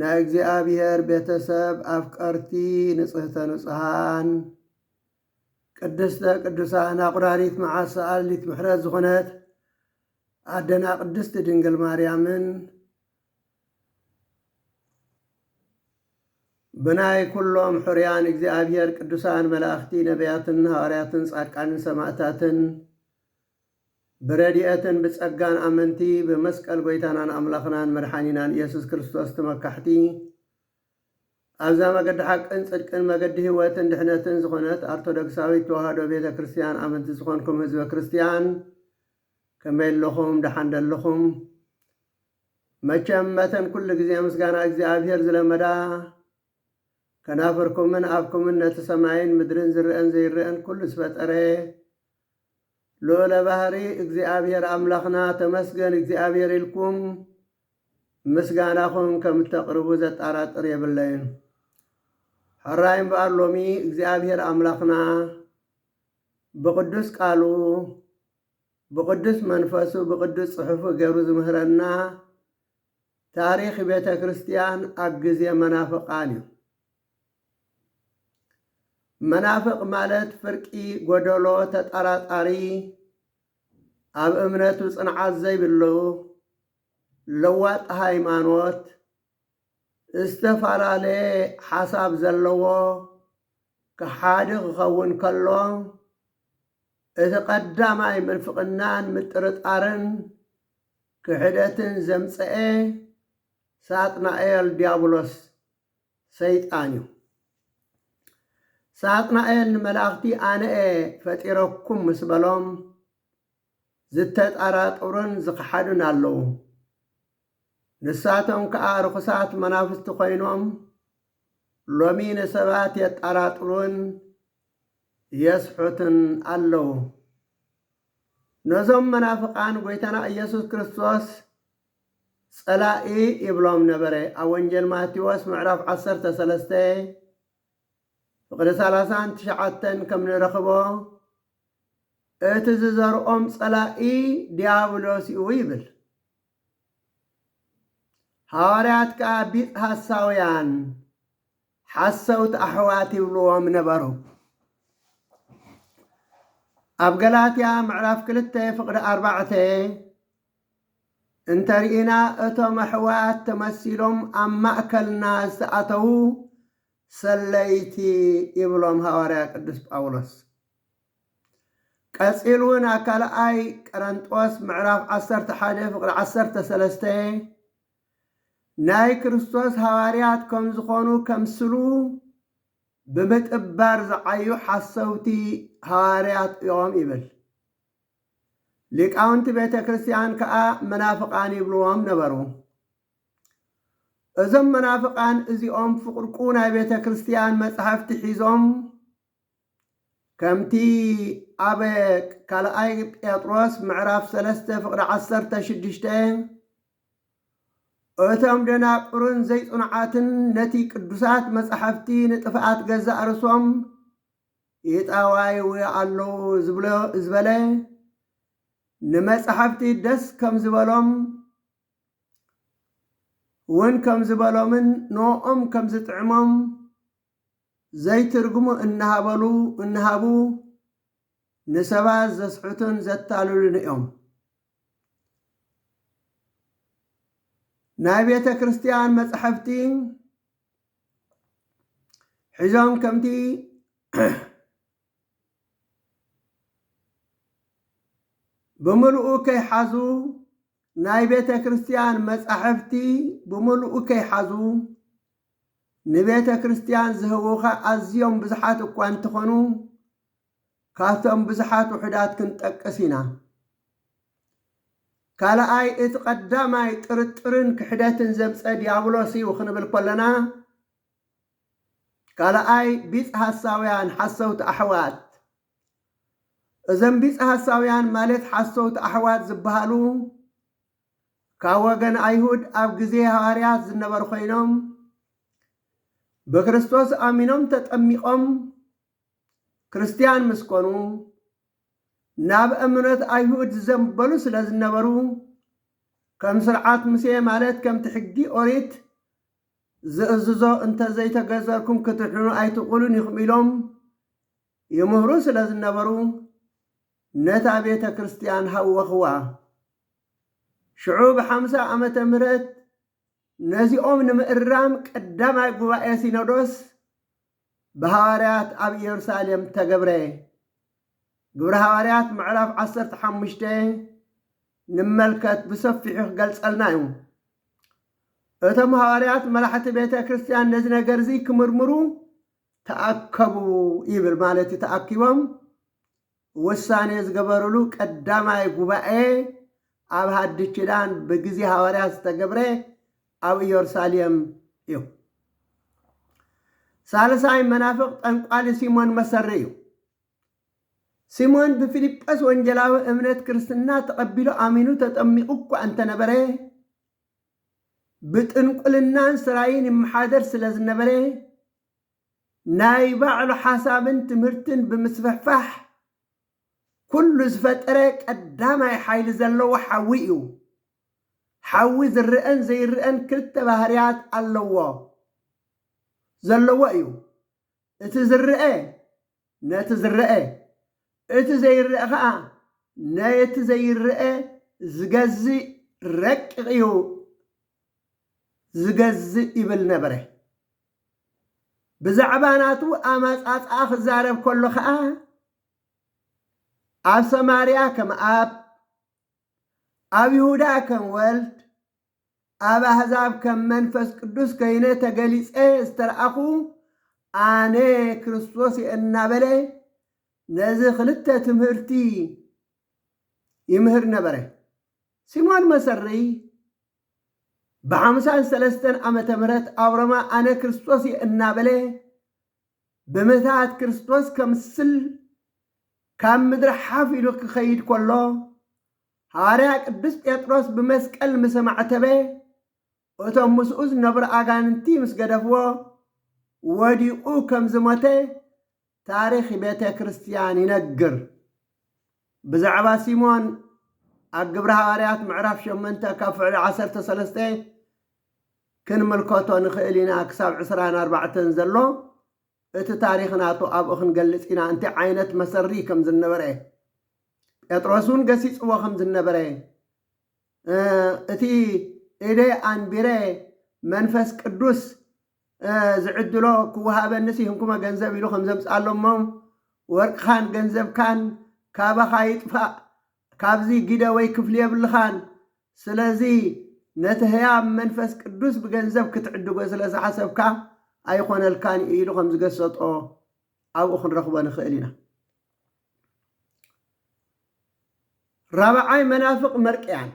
ናይ እግዚኣብሔር ቤተሰብ ኣፍቀርቲ ንጽህተ ንጹሃን ቅድስተ ቅዱሳን ኣቁራሪት መዓት ሰኣሊት ምሕረት ዝኾነት ኣደና ቅድስቲ ድንግል ማርያምን ብናይ ኩሎም ሕርያን እግዚኣብሔር ቅዱሳን መላእኽቲ ነቢያትን ሃዋርያትን ጻድቃንን ሰማእታትን ብረድኤትን ብጸጋን ኣመንቲ ብመስቀል ጐይታናን ኣምላኽናን መድሓኒናን ኢየሱስ ክርስቶስ ተመካሕቲ ኣብዛ መገዲ ሓቅን ጽድቅን መገዲ ሕይወትን ድሕነትን ዝኾነት ኣርቶዶክሳዊት ተዋህዶ ቤተ ክርስቲያን ኣመንቲ ዝኾንኩም ህዝበ ክርስቲያን ከመይ ኣለኹም ደሓን ደለኹም መቸም መተን ኩሉ ግዜ ምስጋና እግዚኣብሔር ዝለመዳ ከናፍርኩምን ኣፍኩምን ነቲ ሰማይን ምድርን ዝርአን ዘይርአን ኩሉ ዝፈጠረ ሉኡለ ባህሪ እግዚኣብሔር ኣምላኽና ተመስገን እግዚኣብሔር ኢልኩም ምስጋናኹም ከም እተቅርቡ ዘጣራጥር የብለይን። ሕራይ እምበኣር ሎሚ እግዚኣብሔር ኣምላኽና ብቅዱስ ቃሉ ብቅዱስ መንፈሱ ብቅዱስ ጽሑፉ ገይሩ ዝምህረና ታሪኽ ቤተ ክርስቲያን ኣብ ግዜ መናፍቃን እዩ። መናፍቅ ማለት ፍርቂ ጎደሎ ተጠራጣሪ ኣብ እምነቱ ጽንዓት ዘይብሉ ለዋጥ ሃይማኖት ዝተፈላለየ ሓሳብ ዘለዎ ከሓዲ ክኸውን ከሎ እቲ ቀዳማይ ምንፍቅናን ምጥርጣርን ክሕደትን ዘምጸኤ ሳጥናኤል ዲያብሎስ ሰይጣን እዩ። ሳጥናኤል ንመላእኽቲ ኣነ'የ ፈጢረኩም ምስ በሎም ዝተጠራጠሩን ዝኸሓዱን ኣለዉ። ንሳቶም ከኣ ርኹሳት መናፍስቲ ኮይኖም ሎሚ ንሰባት የጠራጥሩን የስሑቱን ኣለዉ። ነዞም መናፍቃን ጎይታና ኢየሱስ ክርስቶስ ጸላኢ ይብሎም ነበረ ኣብ ወንጌል ማቴዎስ ምዕራፍ ዓሰርተ ሰለስተ ፍቕዲ ሰላሳን ትሽዓተን ከም ንረኽቦ እቲ ዝዘርኦም ጸላኢ ዲያብሎስ እዩ ይብል። ሃዋርያት ከኣ ቢጽ ሃሳውያን ሓሰውቲ ኣሕዋት ይብልዎም ነበሩ። ኣብ ገላትያ ምዕራፍ ክልተ ፍቕዲ ኣርባዕተ እንተርኢና እቶም ኣሕዋት ተመሲሎም ኣብ ማእከልና ዝተኣተዉ ሰለይቲ ይብሎም ሃዋርያ ቅዱስ ጳውሎስ። ቀጺሉ እውን ኣብ ካልኣይ ቀረንጦስ ምዕራፍ ዓሰርተ ሓደ ፍቕዲ ዓሰርተ ሰለስተ ናይ ክርስቶስ ሃዋርያት ከም ዝኾኑ ከምስሉ ብምጥባር ዝዓዩ ሓሰውቲ ሃዋርያት እዮም ይብል። ሊቃውንቲ ቤተ ክርስቲያን ከኣ መናፍቃን ይብልዎም ነበሩ። እዞም መናፍቃን እዚኦም ፍቁርቁ ናይ ቤተ ክርስቲያን መጽሕፍቲ ሒዞም ከምቲ ኣብ ካልኣይ ጴጥሮስ ምዕራፍ ሰለስተ ፍቅሪ ዓሰርተ ሽዱሽተ እቶም ደናቁርን ዘይጽኑዓትን ነቲ ቅዱሳት መጻሕፍቲ ንጥፍኣት ገዛእ ርእሶም ኢጣዋይዊ ኣለዉ ዝብሎ ዝበለ ንመጻሕፍቲ ደስ ከም ዝበሎም ውን ከም ዝበሎምን ንኦም ከም ዝጥዕሞም ዘይትርጉሙ እናሃበሉ እናሃቡ ንሰባት ዘስሕቱን ዘታልሉን እዮም። ናይ ቤተ ክርስቲያን መጻሕፍቲ ሒዞም ከምቲ ብምልኡ ከይሓዙ ናይ ቤተ ክርስቲያን መጻሕፍቲ ብምልኡ ከይሓዙ ንቤተ ክርስቲያን ዝህቡኻ ኣዝዮም ብዙሓት እኳ እንተኾኑ ካብቶም ብዙሓት ውሑዳት ክንጠቅስ ኢና። ካልኣይ እቲ ቀዳማይ ጥርጥርን ክሕደትን ዘምፀ ዲያብሎስ እዩ ክንብል ኮለና ካልኣይ ቢጽ ሐሳውያን ሓሰውቲ ኣሕዋት እዘም ቢጽ ሐሳውያን ማለት ሓሰውቲ ኣሕዋት ዝበሃሉ ካብ ወገን ኣይሁድ ኣብ ግዜ ሃዋርያት ዝነበሩ ኮይኖም ብክርስቶስ ኣሚኖም ተጠሚቖም ክርስትያን ምስ ኮኑ ናብ እምነት ኣይሁድ ዝዘንበሉ ስለ ዝነበሩ ከም ስርዓት ሙሴ ማለት ከምቲ ሕጊ ኦሪት ዝእዝዞ እንተ ዘይተገዘርኩም ክትድሕኑ ኣይትኽእሉን ኢኹም ኢሎም ይምህሩ ስለ ዝነበሩ ነታ ቤተ ክርስትያን ሃወኽዋ። ሽዑ ብሓምሳ ዓመተ ምህረት ነዚኦም ንምእራም ቀዳማይ ጉባኤ ሲኖዶስ ብሃዋርያት ኣብ ኢየሩሳሌም ተገብረ። ግብረ ሃዋርያት ምዕራፍ ዓሰርተ ሓሙሽተ ንመልከት ብሰፊሑ ክገልጸልና እዩ። እቶም ሃዋርያት መራሕቲ ቤተ ክርስቲያን ነዚ ነገር እዚ ክምርምሩ ተኣከቡ ይብል ማለት እዩ ተኣኪቦም ውሳኔ ዝገበርሉ ቀዳማይ ጉባኤ ኣብ ሃዲስ ኪዳን ብግዜ ሃዋርያት ዝተገብረ ኣብ ኢዮርሳሌም እዩ። ሳልሳይ መናፍቅ ጠንቋሊ ሲሞን መሰሪ እዩ። ሲሞን ብፊልጶስ ወንጌላዊ እምነት ክርስትና ተቐቢሉ ኣሚኑ ተጠሚቑ እኳ እንተነበረ ብጥንቁልናን ስራይን ይመሓደር ስለዝነበረ ናይ ባዕሉ ሓሳብን ትምህርትን ብምስፍሕፋሕ ኩሉ ዝፈጠረ ቀዳማይ ሓይሊ ዘለዎ ሓዊ እዩ። ሓዊ ዝረኣን ዘይረኣን ክልተ ባህርያት ኣለዎ፣ ዘለዎ እዩ። እቲ ዝረኣ ነቲ ዝረኣ፣ እቲ ዘይረኣ ከኣ ነቲ ዘይረኣ ዝገዝእ ረቂቕ እዩ ዝገዝእ ይብል ነበረ። ብዛዕባ ናቱ ኣማጻጽኣ ክዛረብ ከሎ ከኣ ኣብ ሰማርያ ከም ኣብ ኣብ ይሁዳ ከም ወልድ ኣብ ኣሕዛብ ከም መንፈስ ቅዱስ ከይነ ተገሊጸ ዝተረኣኹ ኣነ ክርስቶስ እየ እናበለ ነዚ ክልተ ትምህርቲ ይምህር ነበረ። ሲሞን መሰርይ ብሓምሳን ሰለስተን ዓመተ ምህረት ኣብ ሮማ ኣነ ክርስቶስ እየ እናበለ ብምትሃት ክርስቶስ ከምስል ካብ ምድሪ ሓፍ ኢሉ ክኸይድ ከሎ ሃዋርያ ቅዱስ ጴጥሮስ ብመስቀል ምስ ኣማዕተበ እቶም ምስኡ ዝነብሩ ኣጋንንቲ ምስ ገደፍዎ ወዲቁ ከም ዝሞተ ታሪኽ ቤተ ክርስቲያን ይነግር። ብዛዕባ ሲሞን ኣብ ግብረ ሃዋርያት ምዕራፍ ሸመንተ ካብ ፍዕሊ ዓሰርተ ሰለስተ ክንምልከቶ ንኽእል ኢና ክሳብ ዕስራን ኣርባዕተን ዘሎ እቲ ታሪኽ ናቱ ኣብኡ ክንገልጽ ኢና እንታይ ዓይነት መሰሪ ከም ዝነበረ ጴጥሮስ እውን ገሲጽዎ ከም ዝነበረ እቲ ኢደ ኣንቢረ መንፈስ ቅዱስ ዝዕድሎ ክወሃበኒ ሲህንኩመ ገንዘብ ኢሉ ከም ዘምጽኣሎሞ ወርቅኻን ገንዘብካን ካባኻ ይጥፋእ ካብዚ ጊደ ወይ ክፍሊ የብልኻን ስለዚ ነቲ ህያብ መንፈስ ቅዱስ ብገንዘብ ክትዕድጎ ስለ ዝሓሰብካ ኣይኾነልካን ኢዩ ኢሉ ከም ዝገሰጦ ኣብኡ ክንረኽቦ ንኽእል ኢና። ራብዓይ መናፍቕ መርቅያን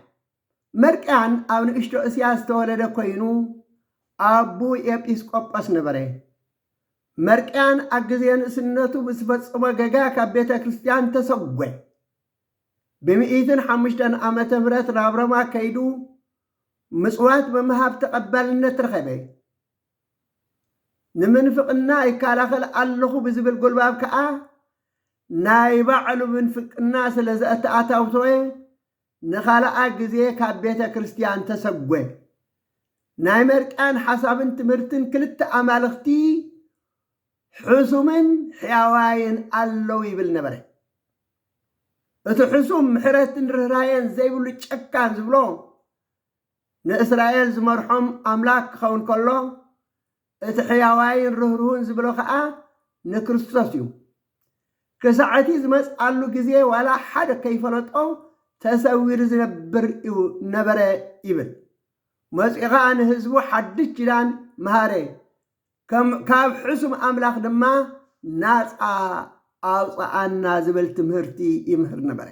መርቅያን ኣብ ንእሽቶ እስያ ዝተወለደ ኮይኑ ኣቡ ኤጲስቆጶስ ነበረ። መርቅያን ኣብ ግዜ ንእስነቱ ብዝፈጸሞ ገጋ ካብ ቤተ ክርስቲያን ተሰጐ። ብምኢትን ሓሙሽተን ዓመተ ምህረት ናብ ሮማ ከይዱ ምጽዋት ብምሃብ ተቐባልነት ረኸበ። ንምንፍቕና ይከላኸል ኣለኹ ብዝብል ጉልባብ ከኣ ናይ ባዕሉ ምንፍቅና ስለ ዘተኣታተወ ንኻልኣይ ግዜ ካብ ቤተ ክርስቲያን ተሰጐ። ናይ መርቅያን ሓሳብን ትምህርትን ክልተ ኣማልኽቲ ሕሱምን ሕያዋይን ኣለዉ ይብል ነበረ። እቲ ሕሱም ምሕረትን ርኅራኄን ዘይብሉ ጨካን ዝብሎ ንእስራኤል ዝመርሖም ኣምላክ ክኸውን ከሎ እቲ ሕያዋይን ርህሩህን ዝብሎ ከኣ ንክርስቶስ እዩ። ክሳዕ እቲ ዝመጽኣሉ ግዜ ዋላ ሓደ ከይፈለጦ ተሰዊሩ ዝነብር እዩ ነበረ ይብል። መጺኡ ከኣ ንህዝቡ ሓድሽ ኪዳን መሃረ ከም ካብ ሕሱም ኣምላክ ድማ ናጻ ኣውጽኣና ዝብል ትምህርቲ ይምህር ነበረ።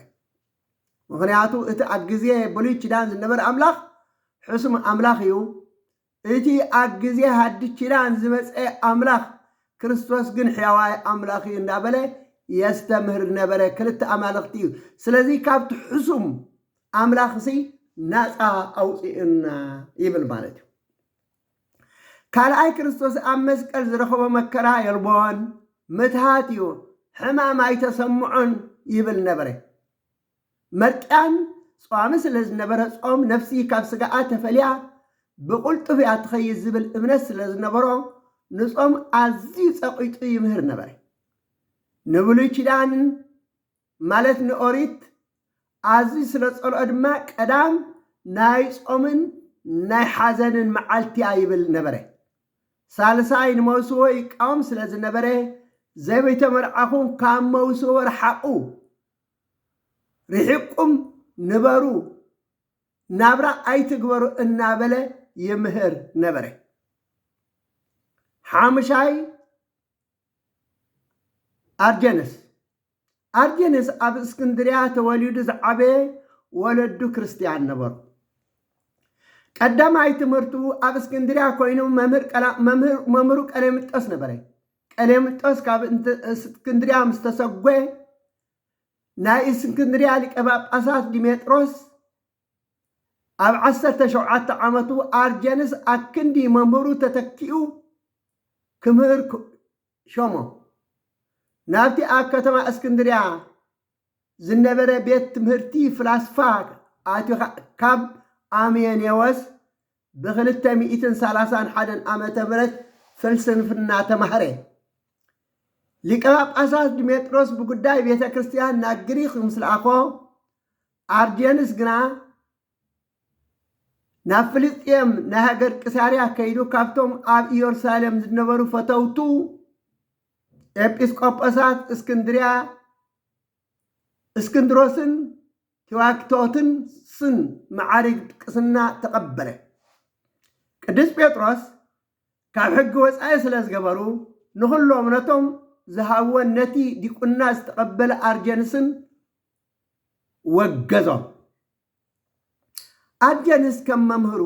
ምኽንያቱ እቲ ኣብ ግዜ ብሉይ ኪዳን ዝነበረ ኣምላኽ ሕሱም ኣምላኽ እዩ፣ እቲ ኣብ ግዜ ሃዲስ ኪዳን ዝመጸ ኣምላኽ ክርስቶስ ግን ሕያዋይ ኣምላኽ እዩ እንዳበለ የስተምህር ዝነበረ ክልተ ኣማልኽቲ እዩ። ስለዚ ካብቲ ሕሱም ኣምላኽሲ ናጻ ኣውጽኡና ይብል ማለት እዩ። ካልኣይ ክርስቶስ ኣብ መስቀል ዝረኸቦ መከራ የልቦን፣ ምትሃት እዩ፣ ሕማም ኣይተሰምዖን ይብል ነበረ። መርቅያን ጸዋሚ ስለ ዝነበረ ጾም ነፍሲ ካብ ስጋኣ ተፈልያ ብቕልጡፍ እያ ትኸይድ ዝብል እምነት ስለ ዝነበሮ ንጾም ኣዝዩ ጸቒጡ ይምህር ነበረ። ንብሉይ ኪዳን ማለት ንኦሪት ኣዝዩ ስለ ዝጸልኦ ድማ ቀዳም ናይ ጾምን ናይ ሓዘንን መዓልቲ እያ ይብል ነበረ። ሳልሳይ ንመውስቦ ይቃወም ስለ ዝነበረ ዘይተመርዓኹም ካብ መውስቦ ርሓቑ፣ ርሒቕኩም ንበሩ፣ ናብራ ኣይትግበሩ እናበለ ይምህር ነበረ። ሓሙሻይ ኣርጀንስ ኣርጌንስ ኣብ እስክንድርያ ተወሊዱ ዝዓበየ ወለዱ ክርስትያን ነበሩ። ቀዳማይ ትምህርቱ ኣብ እስክንድርያ ኮይኑ መምህሩ ቀሌምንጦስ ነበረ። ቀሌምንጦስ ካብ እስክንድርያ ምስ ተሰጐ ናይ እስክንድርያ ሊቀ ጳጳሳት ዲሜጥሮስ ኣብ ዓሰርተ ሸውዓተ ዓመቱ ኣርጀንስ ኣክንዲ መምህሩ ተተኪኡ ክምህር ሾሞም። ናብቲ ኣብ ከተማ እስክንድርያ ዝነበረ ቤት ትምህርቲ ፍላስፋ ኣትዩ ካብ ኣምየኔዎስ ብክልተ ሚእትን ሰላሳን ሓደን ዓመተ ምህረት ፍልስንፍና ተማህረ። ሊቀ ጳጳሳት ድሜጥሮስ ብጉዳይ ቤተ ክርስቲያን ናብ ግሪኽ ምስ ለኣኾ፣ ኣርጀንስ ግና ናብ ፍልስጥኤም ናይ ሃገር ቅሳርያ ከይዱ ካብቶም ኣብ ኢየሩሳሌም ዝነበሩ ፈተውቱ ኤጲስቆጶሳት እስክንድርያ እስክንድሮስን ቲዋክቶትን ስን መዓርግ ቅስና ተቐበለ። ቅዱስ ጴጥሮስ ካብ ሕጊ ወፃኢ ስለ ዝገበሩ ንኹሎም ነቶም ዝሃብወን ነቲ ዲቁና ዝተቐበለ ኣርጀንስን ወገዞም። ኣጀንስ ከም መምህሩ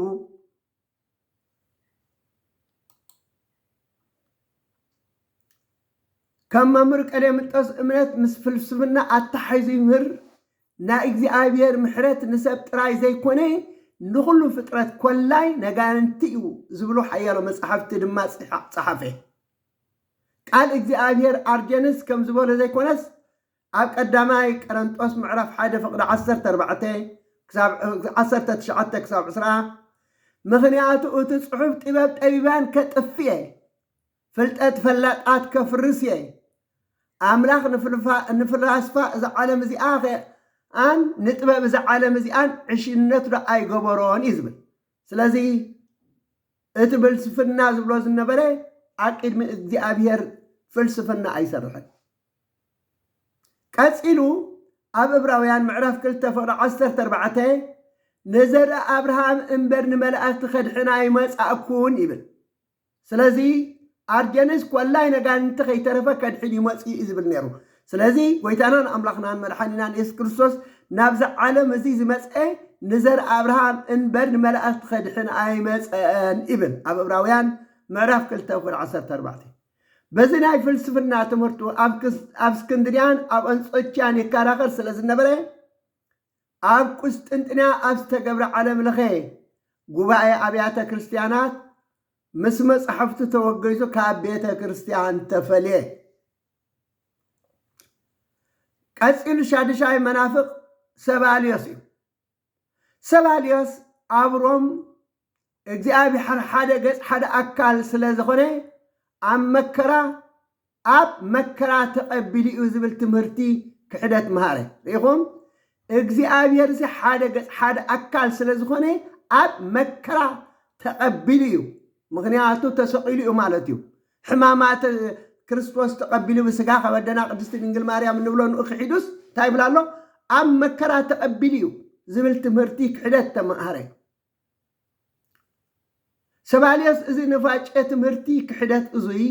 ከም መምህር ቀሌምንጦስ እምነት ምስ ፍልስፍና ኣተሓሒዙ ይምህር። ናይ እግዚኣብሔር ምሕረት ንሰብ ጥራይ ዘይኮነ ንኹሉ ፍጥረት ኮላይ ነጋንንቲ እዩ ዝብሉ ሓያሎ መጻሕፍቲ ድማ ጸሓፈ። ቃል እግዚኣብሔር ኣርጀንስ ከም ዝበሎ ዘይኮነስ ኣብ ቀዳማይ ቀረንጦስ ምዕራፍ ሓደ ፍቕዲ ዓሰርተ ኣርባዕተ ክሳብ ዓሰርተ ትሽዓተ ክሳብ ዕስራ ምኽንያቱ እቲ ጽሑፍ ጥበብ ጠቢባን ከጥፍ እየ ፍልጠት ፈላጣት ከፍርስ እየ ኣምላኽ ንፍልፋ ንፍላስፋ እዛ ዓለም እዚኣ ኸኣን ንጥበብ እዛ ዓለም እዚኣን ዕሽነት ዶ ኣይገበሮን እዩ ዝብል ስለዚ እቲ ብልስፍና ዝብሎ ዝነበረ ኣብ ቅድሚ እግዚኣብሔር ፍልስፍና ኣይሰርሕን። ቀጺሉ ኣብ እብራውያን ምዕራፍ ክልተ ፍቕዲ ዓሰርተ ኣርባዕተ ንዘርኢ ኣብርሃም እምበር ንመላእኽቲ ከድሕን ኣይመጻእኩን ይብል። ስለዚ ኣርጀንስ ኰላይ ነጋንንቲ ከይተረፈ ከድሕን እዩ መጺኡ እዩ ዝብል ነይሩ። ስለዚ ጐይታናን ኣምላኽናን መድሓኒናን የሱስ ክርስቶስ ናብዚ ዓለም እዚ ዝመጸ ንዘር ኣብርሃም እንበር ንመላእኽቲ ከድሕን ኣይመጸን ይብል ኣብ እብራውያን ምዕራፍ ክልተ ቁጥሪ ዓሰርተ ኣርባዕተ። በዚ ናይ ፍልስፍና ትምህርቱ ኣብ እስክንድርያን ኣብ ኣንጾችያን ይከራኸር ስለ ዝነበረ ኣብ ቍስጥንጥንያ ኣብ ዝተገብረ ዓለም ለኸ ጉባኤ ኣብያተ ክርስቲያናት ምስ መጻሕፍቱ ተወገዙ ካብ ቤተ ክርስቲያን ተፈልየ። ቀጺሉ ሻድሻይ መናፍቕ ሰባልዮስ እዩ። ሰባልዮስ ኣብ ሮም እግዚኣብሔር ሓደ ገጽ ሓደ ኣካል ስለ ዝኾነ ኣብ መከራ ኣብ መከራ ተቐቢሉ እዩ ዝብል ትምህርቲ ክሕደት መሃረ። ርኢኹም? እግዚኣብሔርሲ ሓደ ገጽ ሓደ ኣካል ስለ ዝኾነ ኣብ መከራ ተቐቢሉ እዩ። ምኽንያቱ ተሰቒሉ እዩ ማለት እዩ። ሕማማት ክርስቶስ ተቐቢሉ ብስጋ ካብ ኣደና ቅድስቲ ድንግል ማርያም እንብሎ ንኡ ክሒዱስ እንታይ ይብል ኣሎ? ኣብ መከራ ተቐቢሉ እዩ ዝብል ትምህርቲ ክሕደት ተማሃረ። ሰባልዮስ እዚ ንፋጨ ትምህርቲ ክሕደት እዙይ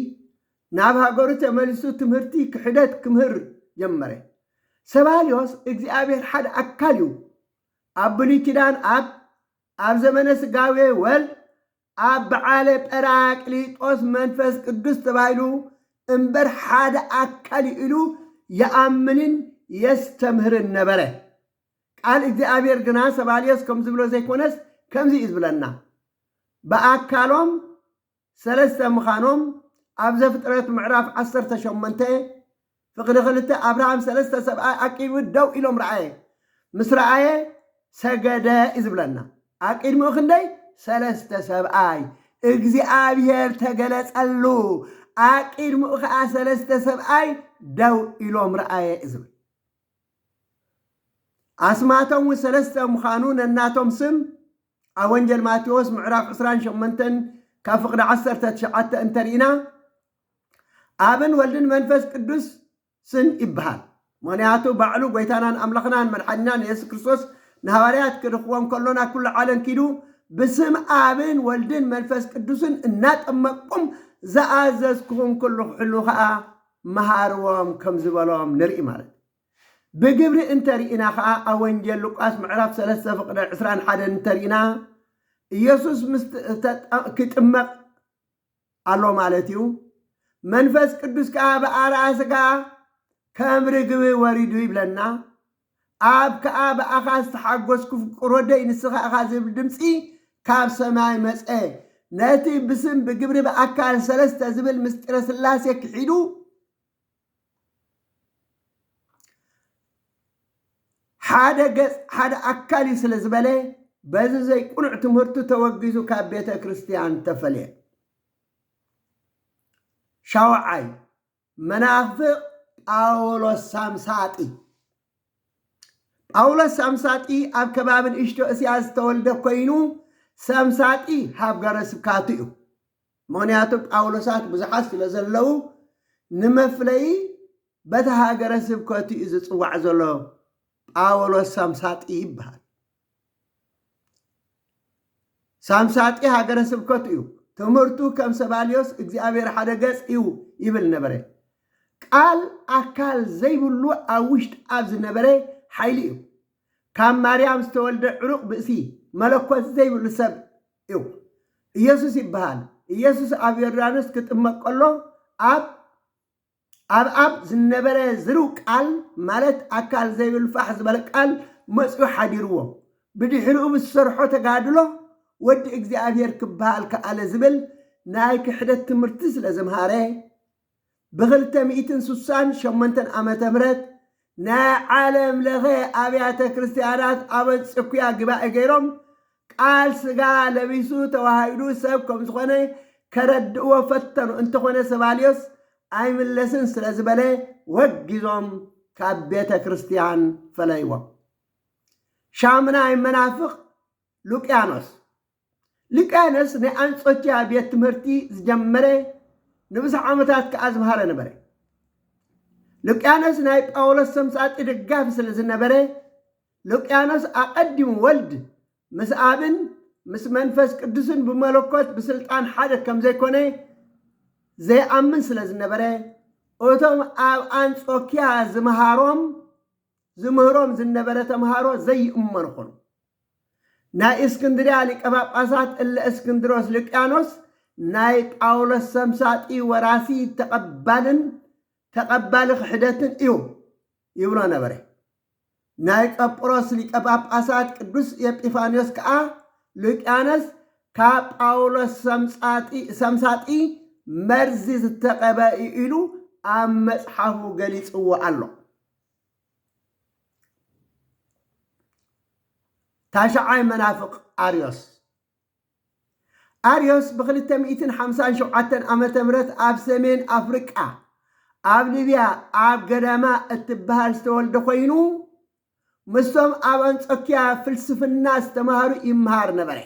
ናብ ሃገሩ ተመሊሱ ትምህርቲ ክሕደት ክምህር ጀመረ። ሰባልዮስ እግዚኣብሔር ሓደ ኣካል እዩ ኣብ ብሉይ ኪዳን ኣብ ኣብ ዘመነ ስጋዌ ወልድ ኣብ በዓለ ጰራቅሊጦስ መንፈስ ቅዱስ ተባሂሉ እምበር ሓደ ኣካል እዩ ኢሉ ይኣምንን የስተምህርን ነበረ። ቃል እግዚኣብሔር ግና ሰባልዮስ ከም ዝብሎ ዘይኮነስ ከምዚ እዩ ዝብለና ብኣካሎም ሰለስተ ምኻኖም ኣብ ዘፍጥረት ምዕራፍ ዓሰርተ ሸሞንተ ፍቕዲ ክልተ ኣብርሃም ሰለስተ ሰብኣይ ኣቂድሚ ደው ኢሎም ረኣየ ምስ ረኣየ ሰገደ እዩ ዝብለና ኣቂድሚኡ ክንደይ ሰለስተ ሰብኣይ እግዚኣብሔር ተገለጸሉ ኣቂድሚኡ ከዓ ሰለስተ ሰብኣይ ደው ኢሎም ረኣየ እዩ ዝብል ኣስማቶም እውን ሰለስተ ምዃኑ ነናቶም ስም ኣብ ወንጀል ማቴዎስ ምዕራፍ ዕስራን ሸሞንተን ካብ ፍቕዲ ዓሰርተ ትሽዓተ እንተርኢና ኣብን ወልድን መንፈስ ቅዱስ ስን ይበሃል። ምክንያቱ ባዕሉ ጎይታናን ኣምላኽናን መድሓኒናን የሱስ ክርስቶስ ንሃዋርያት ክልኽዎም ከሎ ናብ ኩሉ ዓለም ኪዱ ብስም ኣብን ወልድን መንፈስ ቅዱስን እናጠመቅኩም ዝኣዘዝኩኹም ኩሉ ክሕሉ ከኣ መሃርዎም ከም ዝበሎም ንርኢ ማለት ብግብሪ እንተ ርኢና ከኣ ኣብ ወንጌል ሉቃስ ምዕራፍ ሰለስተ ፍቅደ ዕስራን ሓደን እንተ ርኢና ኢየሱስ ምስ ክጥመቅ ኣሎ ማለት እዩ መንፈስ ቅዱስ ከኣ ብኣርኣ ስጋ ከም ርግቢ ወሪዱ ይብለና ኣብ ከኣ ብኣኻ ዝተሓጐስኩ ፍቁር ወደይ ንስኻ ኢኻ ዝብል ድምጺ ካብ ሰማይ መጸ። ነቲ ብስም ብግብሪ ብኣካል ሰለስተ ዝብል ምስጢረ ሥላሴ ክሒዱ ሓደ ገጽ ሓደ ኣካል እዩ ስለ ዝበለ በዚ ዘይቁኑዕ ትምህርቱ ተወጊዙ ካብ ቤተ ክርስቲያን ተፈልየ። ሻውዓይ መናፍቅ ጳውሎስ ሳምሳጢ ጳውሎስ ሳምሳጢ ኣብ ከባቢ ንእሽቶ እስያ ዝተወልደ ኮይኑ ሳምሳጢ ሃገረ ስብካቱ እዩ ምክንያቱ ጳውሎሳት ብዙሓት ስለ ዘለዉ ንመፍለዪ በቲ ሃገረ ስብከቱ እዩ ዝፅዋዕ ዘሎ ጳውሎስ ሳምሳጢ ይበሃል ሳምሳጢ ሃገረ ስብከቱ እዩ። ትምህርቱ ከም ሰባልዮስ እግዚኣብሔር ሓደ ገጽ እዩ ይብል ነበረ። ቃል ኣካል ዘይብሉ ኣብ ውሽጥ ኣብ ዝነበረ ሓይሊ እዩ። ካብ ማርያም ዝተወልደ ዕሩቕ ብእሲ መለኮት ዘይብሉ ሰብ እዩ። ኢየሱስ ይበሃል። ኢየሱስ ኣብ ዮርዳኖስ ክጥመቅ ከሎ ኣብ ኣብ ኣብ ዝነበረ ዝርው ቃል ማለት ኣካል ዘይብል ፋሕ ዝበለ ቃል መጺኡ ሓዲርዎ። ብድሕሪኡ ብዝሰርሖ ተጋድሎ ወዲ እግዚኣብሔር ክበሃል ከኣለ ዝብል ናይ ክሕደት ትምህርቲ ስለዘምሃረ ብኽልተ ሚእትን ስሳን ሸሞንተን ዓመተ ምህረት ናይ ዓለም ለኸ ኣብያተ ክርስትያናት ኣበንጽኩያ ግባኤ ገይሮም ቃል ስጋ ለቢሱ ተዋሂዱ ሰብ ከም ዝኾነ ከረድእዎ ፈተኑ እንተኾነ ሰባልዮስ ኣይምለስን ስለ ዝበለ ወጊዞም ካብ ቤተ ክርስትያን ፈለይዎ ሻሙናይ መናፍቅ ሉቅያኖስ ሊቃኖስ ናይ ኣንጾኪያ ቤት ትምህርቲ ዝጀመረ ንብዙሕ ዓመታት ከኣ ዝምሃረ ነበረ። ሉቅያኖስ ናይ ጳውሎስ ሰምሳጢ ደጋፊ ስለ ዝነበረ ሉቅያኖስ ኣቐዲሙ ወልድ ምስ ኣብን ምስ መንፈስ ቅዱስን ብመለኮት ብስልጣን ሓደ ከም ዘይኮነ ዘይኣምን ስለ ዝነበረ እቶም ኣብ ኣንጾኪያ ዝምሃሮም ዝምህሮም ዝነበረ ተምሃሮ ዘይእመኑ ኾኑ። ናይ እስክንድርያ ሊቀ ጳጳሳት እለ እስክንድሮስ ልቅያኖስ ናይ ጳውሎስ ሰምሳጢ ወራሲ ተቐባልን ተቐባሊ ክሕደትን እዩ ይብሎ ነበረ። ናይ ቀጵሮስ ሊቀ ጳጳሳት ቅዱስ ኤጲፋንዮስ ከዓ ልቅያኖስ ካብ ጳውሎስ ሰምጻጢ- ሰምሳጢ መርዚ ዝተቐበ እዩ ኢሉ ኣብ መጽሓፉ ገሊጽዎ ኣሎ። ታሽዓይ መናፍቕ ኣርዮስ ኣርዮስ ብ257 ዓ ም ኣብ ሰሜን ኣፍሪቃ ኣብ ሊብያ ኣብ ገዳማ እትበሃል ዝተወልደ ኮይኑ ምስቶም ኣብ ኣንጾኪያ ፍልስፍና ዝተምሃሩ ይምሃር ነበረ።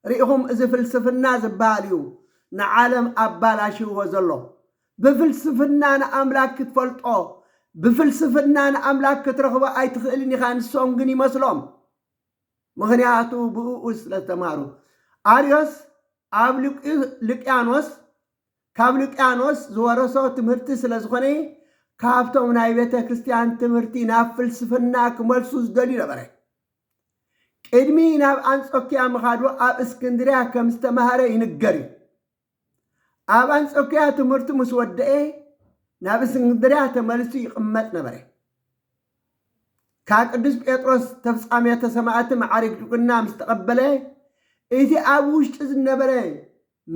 ሪኢኹም እዚ ፍልስፍና ዝብሃል እዩ ንዓለም ኣባላሽይዎ ዘሎ ብፍልስፍና ንኣምላክ ክትፈልጦ ብፍልስፍና ንኣምላክ ክትረኽቦ ኣይትኽእልን ኢኻ ንሶም ግን ይመስሎም ምኽንያቱ ብእኡ ስለ ዝተማህሩ ኣርዮስ ኣብ ልቅያኖስ ካብ ልጥያኖስ ዝወረሶ ትምህርቲ ስለ ዝኾነ ካብቶም ናይ ቤተ ክርስቲያን ትምህርቲ ናብ ፍልስፍና ክመልሱ ዝደልዩ ነበረ። ቅድሚ ናብ ኣንጾኪያ ምኻዱ ኣብ እስክንድርያ ከም ዝተማህረ ይንገር እዩ። ኣብ ኣንጾኪያ ትምህርቱ ምስ ወደኤ ናብ እስክንድርያ ተመልሱ ይቕመጥ ነበረ። ካብ ቅዱስ ጴጥሮስ ተፍጻሜተ ሰማዕቲ መዓርግ ድቁና ምስ ተቐበለ እቲ ኣብ ውሽጡ ዝነበረ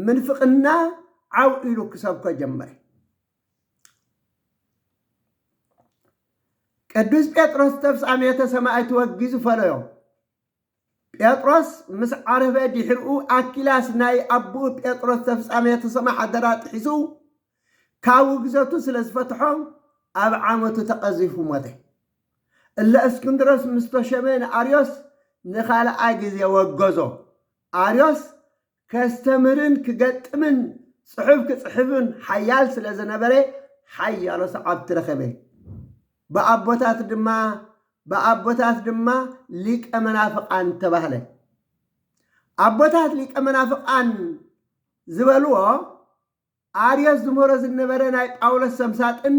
ምንፍቕና ዓው ኢሉ ክሰብኮ ጀመረ። ቅዱስ ጴጥሮስ ተፍጻሜተ ሰማዕቱ ወጊዙ ፈለዮ። ጴጥሮስ ምስ ዓረፈ ድሕርኡ ኣኪላስ ናይ ኣቦኡ ጴጥሮስ ተፍጻሜተ ሰማዕ ሓደራ ጥሒሱ ካብ ውግዘቱ ስለ ዝፈትሖ ኣብ ዓመቱ ተቐዚፉ ሞተ። እለ እስክንድሮስ ምስ ተሾመ ንኣርዮስ ንኻልኣይ ግዜ ወገዞ። ኣርዮስ ከስተምህርን ክገጥምን ጽሑፍ ክጽሕፍን ሓያል ስለ ዝነበረ ሓያሎ ሰዓብቲ ረኸበ። ብኣቦታት ድማ ብኣቦታት ድማ ሊቀ መናፍቃን ተባህለ። ኣቦታት ሊቀ መናፍቃን ዝበልዎ ኣርዮስ ዝመሮ ዝነበረ ናይ ጳውሎስ ሰምሳጥን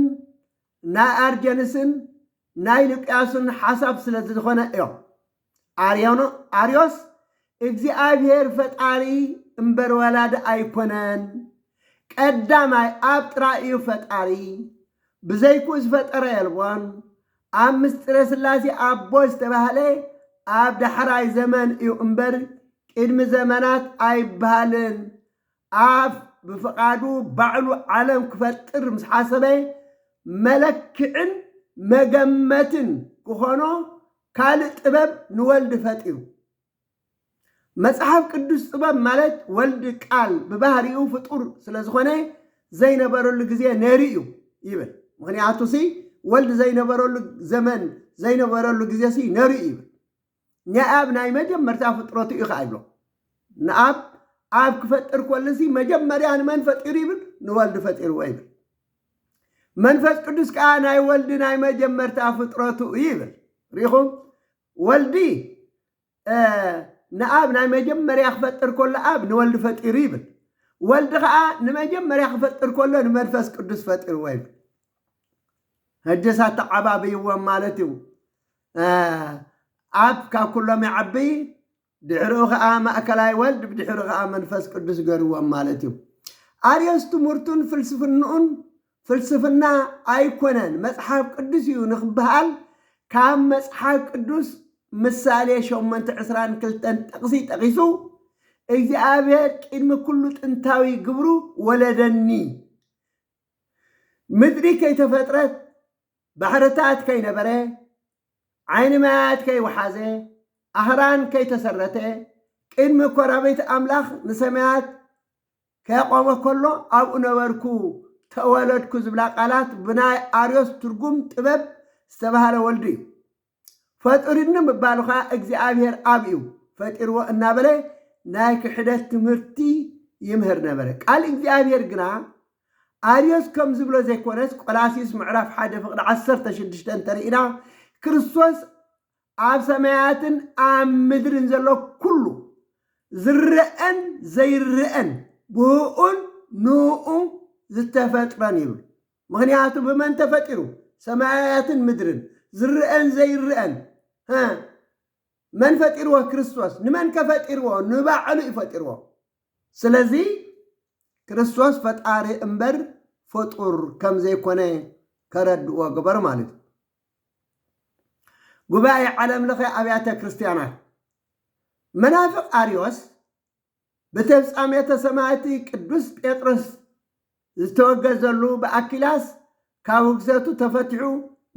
ናይ ኣርጀንስን ናይ ሉቅያሱን ሓሳብ ስለ ዝኾነ እዮ። ኣርዮኖ ኣርዮስ እግዚኣብሔር ፈጣሪ እምበር ወላዲ ኣይኮነን ቀዳማይ ኣብ ጥራይ እዩ ፈጣሪ ብዘይክኡ ዝፈጠረ የልቦን ኣብ ምስጢረ ስላሴ ኣቦ ዝተባህለ ኣብ ዳሕራይ ዘመን እዩ እምበር ቅድሚ ዘመናት ኣይበሃልን ኣፍ ብፍቓዱ ባዕሉ ዓለም ክፈጥር ምስ ሓሰበ መለክዕን መገመትን ክኾኖ ካልእ ጥበብ ንወልድ ፈጢሩ። መጽሓፍ ቅዱስ ጥበብ ማለት ወልድ ቃል ብባህሪኡ ፍጡር ስለ ዝኾነ ዘይነበረሉ ግዜ ነይሩ እዩ ይብል። ምኽንያቱሲ ወልድ ዘይነበረሉ ዘመን ዘይነበረሉ ግዜሲ ነይሩ እዩ ይብል። ንኣብ ናይ መጀመርታ ፍጥረቱ እዩ ኸኣ ይብሎ። ንኣብ ኣብ ክፈጥር ኮልሲ መጀመርያ ንመን ፈጢሩ ይብል? ንወልድ ፈጢርዎ ይብል። መንፈስ ቅዱስ ከኣ ናይ ወልድ ናይ መጀመርታ ፍጥረቱ እዩ ይብል። ሪኹም ወልዲ ንኣብ ናይ መጀመርያ ክፈጥር ከሎ ኣብ ንወልድ ፈጢሩ ይብል። ወልድ ከዓ ንመጀመርያ ክፈጥር ከሎ ንመንፈስ ቅዱስ ፈጢርዎ ይብል። ህጅስ ኣተዓባብይዎም ማለት እዩ። ኣብ ካብ ኩሎም ይዓቢ ድሕርኡ ከኣ ማእከላይ ወልድ ብድሕሩ ከኣ መንፈስ ቅዱስ ገርዎም ማለት እዩ። ኣርዮስ ትምህርቱን ፍልስፍንኡን ፍልስፍና ኣይኮነን መጽሓፍ ቅዱስ እዩ ንክበሃል ካብ መጽሓፍ ቅዱስ ምሳሌ ሸሞንተ ዕስራን ክልተን ጥቕሲ ጠቒሱ እግዚኣብሔር ቅድሚ ኩሉ ጥንታዊ ግብሩ ወለደኒ ምድሪ ከይተፈጥረት ባሕርታት ከይነበረ፣ ዓይኒ ማያት ከይወሓዘ፣ ኣኽራን ከይተሰረተ፣ ቅድሚ ኮራብት ኣምላኽ ንሰማያት ከቆመ ከሎ ኣብኡ ነበርኩ፣ ተወለድኩ ዝብላ ቃላት ብናይ ኣርዮስ ትርጉም ጥበብ ዝተባህለ ወልዱ እዩ። ፈጡሩኒ ምባሉ ከኣ እግዚኣብሔር ኣብ እዩ ፈጢርዎ እናበለ ናይ ክሕደት ትምህርቲ ይምህር ነበረ። ቃል እግዚኣብሔር ግና ኣርዮስ ከም ዝብሎ ዘይኮነስ ቆላስዩስ ምዕራፍ ሓደ ፍቅዲ ዓሰርተ ሽዱሽተ እንተርኢና ክርስቶስ ኣብ ሰማያትን ኣብ ምድርን ዘሎ ኩሉ ዝረኣን ዘይረኣን ብእኡን ንእኡ ዝተፈጥረን ይብል። ምኽንያቱ ብመን ተፈጢሩ ሰማያያትን ምድርን፣ ዝረኣን ዘይረኣን፣ ሀ፣ መን ፈጢርዎ ክርስቶስ፣ ንመንከ ፈጢርዎ፣ ንባዕሉ እዩ ፈጢርዎ። ስለዚ ክርስቶስ ፈጣሪ እምበር ፍጡር ከም ዘይኮነ ከረድእዎ ግበር ማለት እዩ። ጉባኤ ዓለም ለኸ ኣብያተ ክርስቲያናት መናፍቅ ኣርዮስ ብተፍጻሜተ ሰማእቲ ቅዱስ ጴጥሮስ ዝተወገዘሉ ብኣኪላስ ካብ ውግዘቱ ተፈቲሑ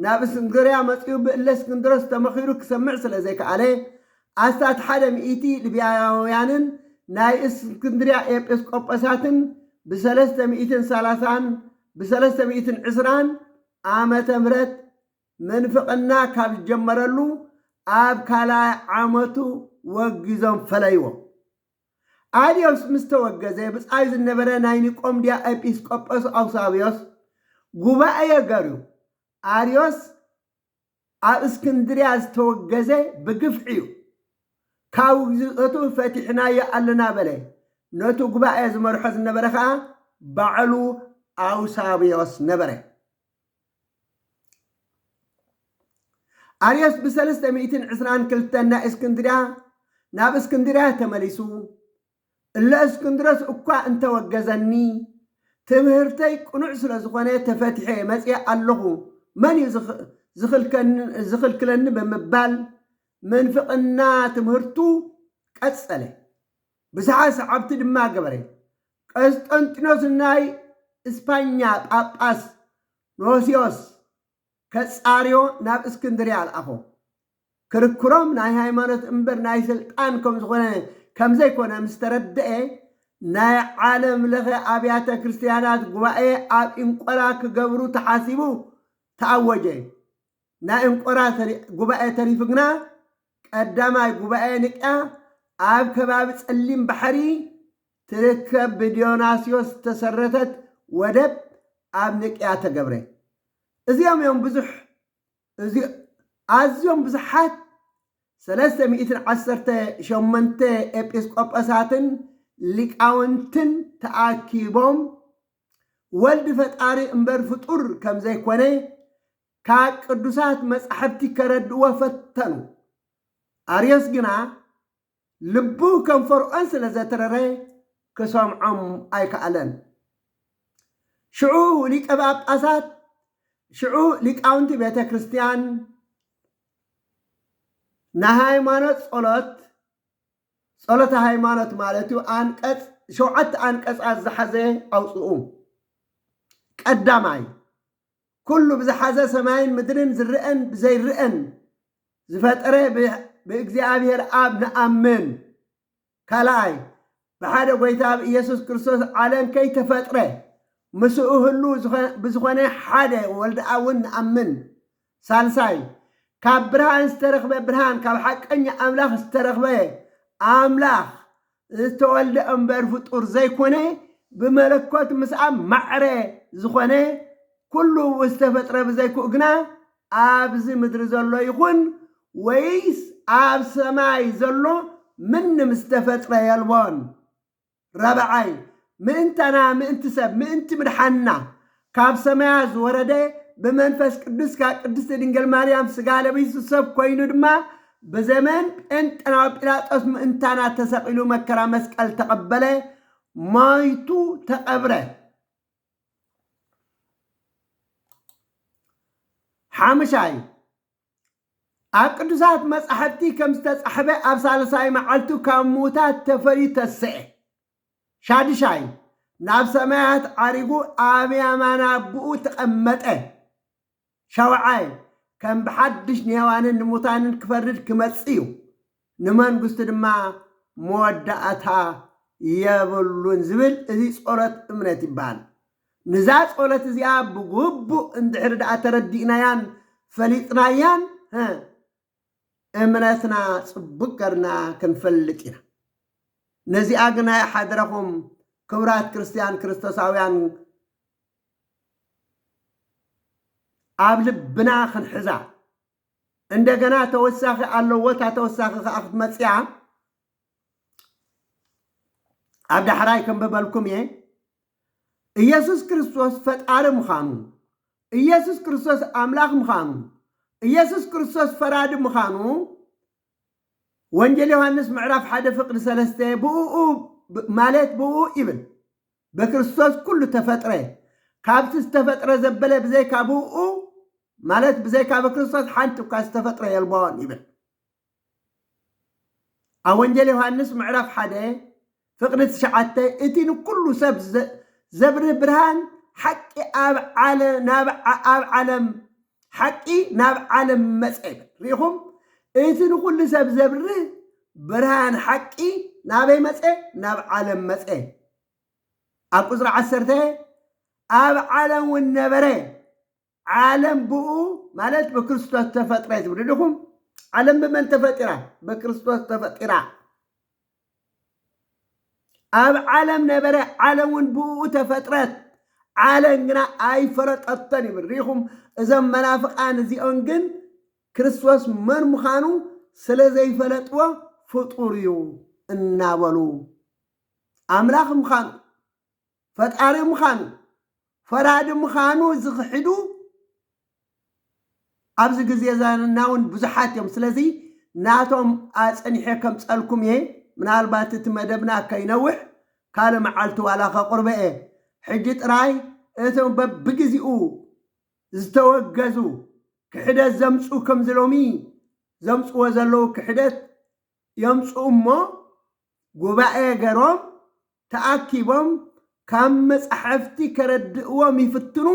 ናብ እስንግርያ መጺኡ ብእለስክንድሮስ ተመኺሩ ክሰምዕ ስለ ዘይከኣለ ኣስታት ሓደ ሚእቲ ልብያውያንን ናይ እስክንድርያ ኤጲስቆጶሳትን ብሰለስተ ሚእትን ሰላሳን ብሰለስተ ሚእትን ዕስራን ዓመተ ምህረት ምንፍቕና ካብ ዝጀመረሉ ኣብ ካልኣይ ዓመቱ ወጊዞም ፈለይዎ። ኣልዮስ ምስ ተወገዘ ብጻዩ ዝነበረ ናይ ኒቆምድያ ኤጲስ ቆጶስ ኣውሳብዮስ ጉባኤ ገርዩ። ኣርዮስ ኣብ እስክንድርያ ዝተወገዘ ብግፍዒ እዩ። ካብ ውግዘቱ ፈቲሕናዮ ኣለና በለ። ነቱ ጉባኤ ዝመርሖ ዝነበረ ከኣ ባዕሉ ኣውሳብዮስ ነበረ። ኣርዮስ ብሰለስተ ሚእትን ዕስራን ክልተን ናይ እስክንድርያ ናብ እስክንድርያ ተመሊሱ እለ እስክንድሮስ እኳ እንተወገዘኒ ትምህርተይ ቅኑዕ ስለ ዝኾነ ተፈትሐ መፅአ ኣለኹ መን እዩ ዝኽልክለኒ ብምባል ምንፍቕና ትምህርቱ ቀፀለ። ብዙሓት ሰዓብቲ ድማ ገበረ። ቀስጠንጢኖስ ንናይ እስፓኛ ጳጳስ ኖስዮስ ከጻርዮ ናብ እስክንድርያ ልኣኾ። ክርክሮም ናይ ሃይማኖት እምበር ናይ ስልጣን ከምዝኾነ ከምዘይኮነ ምስ ተረደኤ ናይ ዓለም ለኸ ኣብያተ ክርስትያናት ጉባኤ ኣብ ኢንቆላ ክገብሩ ተሓሲቡ ተኣወጀ። ናይ እንቆራ ጉባኤ ተሪፉ ግና ቀዳማይ ጉባኤ ንቅያ ኣብ ከባቢ ጸሊም ባሕሪ ትርከብ ብዲዮናስዮስ ዝተሰረተት ወደብ ኣብ ንቅያ ተገብረ። እዚኦም እዮም ብዙሕ እዚ ኣዝዮም ብዙሓት ሰለስተ ሚእትን ዓሰርተ ሸሞንተ ኤጲስቆጶሳትን ሊቃውንትን ተኣኪቦም ወልድ ፈጣሪ እምበር ፍጡር ከም ዘይኮነ ካብ ቅዱሳት መጻሕፍቲ ከረድእዎ ፈተኑ። ኣርዮስ ግና ልቡ ከም ፈርዖን ስለ ዘትረረ ክሰምዖም ኣይከኣለን። ሽዑ ሊቀ ጳጳሳት ሽዑ ሊቃውንቲ ቤተ ክርስቲያን ንሃይማኖት ጸሎት ጸሎተ ሃይማኖት ማለት እዩ። ኣንቀጽ ሸውዓተ ኣንቀጻት ዝሓዘ ኣውጽኡ። ቀዳማይ ኩሉ ብዝሓዘ ሰማይን ምድርን ዝረአን ብዘይረአን ዝፈጠረ ብእግዚኣብሔር ኣብ ንኣምን። ካልኣይ ብሓደ ጎይታ ብኢየሱስ ክርስቶስ ዓለም ከይተፈጥረ ምስኡ ህሉ ብዝኾነ ሓደ ወልድኣውን ንኣምን። ሳልሳይ፣ ካብ ብርሃን ዝተረኽበ ብርሃን፣ ካብ ሓቀኛ ኣምላኽ ዝተረኽበ ኣምላኽ ዝተወልደ እምበር ፍጡር ዘይኮነ፣ ብመለኮት ምስኣ ማዕረ ዝኾነ፣ ኩሉ ዝተፈጥረ ብዘይክኡ ግና ኣብዚ ምድሪ ዘሎ ይኹን ወይስ ኣብ ሰማይ ዘሎ ምንም ዝተፈጥረ የልቦን። ራብዓይ፣ ምእንታና፣ ምእንቲ ሰብ፣ ምእንቲ ምድሓንና ካብ ሰማያት ዝወረደ፣ ብመንፈስ ቅዱስ ካብ ቅድስቲ ድንግል ማርያም ሥጋ ለቢሱ ሰብ ኮይኑ ድማ ብዘመን ጴንጠናዊ ጲላጦስ ምእንታና ተሰቒሉ መከራ መስቀል ተቐበለ፣ ሞይቱ ተቐብረ። ሓሙሻይ፣ ኣብ ቅዱሳት መጻሕፍቲ ከም ዝተጻሕፈ ኣብ ሳልሳይ መዓልቱ ካብ ምዉታት ተፈልዩ ተስዐ። ሻድሻይ ናብ ሰማያት ዓሪጉ ኣብ ያማን ኣቦኡ ተቐመጠ። ሻውዓይ ከም ብሓድሽ ንሔዋንን ንምዉታንን ክፈርድ ክመጽእ እዩ። ንመንግስቱ ድማ መወዳእታ የብሉን ዝብል እዚ ጸሎት እምነት ይበሃል። ንዛ ጸሎት እዚኣ ብግቡእ እንድሕሪ ደኣ ተረዲእናያን ፈሊጥናያን ሀ እምነትና ጽቡቅ ገርና ክንፈልጥ ኢና። ነዚኣ ግና ይሓድረኹም ክብራት ክርስትያን ክርስቶሳውያን ኣብ ልብና ክንሕዛ። እንደገና ተወሳኺ ኣለዎ እታ ተወሳኺ ከዓ ክትመፅያ ኣብ ዳሕራይ ከንብበልኩም እየ ኢየሱስ ክርስቶስ ፈጣሪ ምዃኑ ኢየሱስ ክርስቶስ ኣምላኽ ምዃኑ ኢየሱስ ክርስቶስ ፈራዲ ምዃኑ ወንጌል ዮሐንስ ምዕራፍ ሓደ ፍቅዲ ሰለስተ ብኡ ማለት ብኡ ይብል በክርስቶስ ኩሉ ተፈጥረ፣ ካብቲ ዝተፈጥረ ዘበለ ብዘይካ ብእኡ፣ ማለት ብዘይካ በክርስቶስ ሓንቲ እኳ ዝተፈጥረ የልቦን ይብል። ኣብ ወንጌል ዮሃንስ ምዕራፍ ሓደ ፍቕዲ ትሽዓተ እቲ ንኩሉ ሰብ ዘብርህ ብርሃን ሓቂ ኣብ ዓለ- ናብ ዓ- ኣብ ዓለም ሓቂ ናብ ዓለም መጸ ይብል ርኢኹም እቲ ንኹሉ ሰብ ዘብርህ ብርሃን ሓቂ ናበይ መጸ ናብ ዓለም መጸ ኣብ ቁፅሪ ዓሰርተ ኣብ ዓለም እውን ነበረ ዓለም ብኡ ማለት ብክርስቶስ ተፈጥረ ትብሉ ዲኹም ዓለም ብመን ተፈጢራ ብክርስቶስ ተፈጢራ ኣብ ዓለም ነበረ፣ ዓለም እውን ብእኡ ተፈጥረት፣ ዓለም ግና ኣይፈለጠቶን ይብል። ርኢኹም፣ እዞም መናፍቓን እዚኦም ግን ክርስቶስ መን ምዃኑ ስለ ዘይፈለጥዎ ፍጡር እዩ እናበሉ ኣምላኽ ምዃኑ ፈጣሪ ምኻኑ ፈራዲ ምኻኑ ዝኽሕዱ ኣብዚ ግዜ ዛና እውን ብዙሓት እዮም ስለዚ ናቶም ኣጽኒሐ ከምጸልኩም እየ ምናልባት እቲ መደብና ከይነውሕ ካልእ መዓልቲ ዋላ ከቕርቦ እየ ሕጂ ጥራይ እቲ በብግዜኡ ዝተወገዙ ክሕደት ዘምጽኡ ከምዚ ሎሚ ዘምጽዎ ዘለዉ ክሕደት የምጽኡ እሞ ጉባኤ ገሮም ተኣኪቦም ካብ መጻሕፍቲ ከረድእዎም ይፍትኑ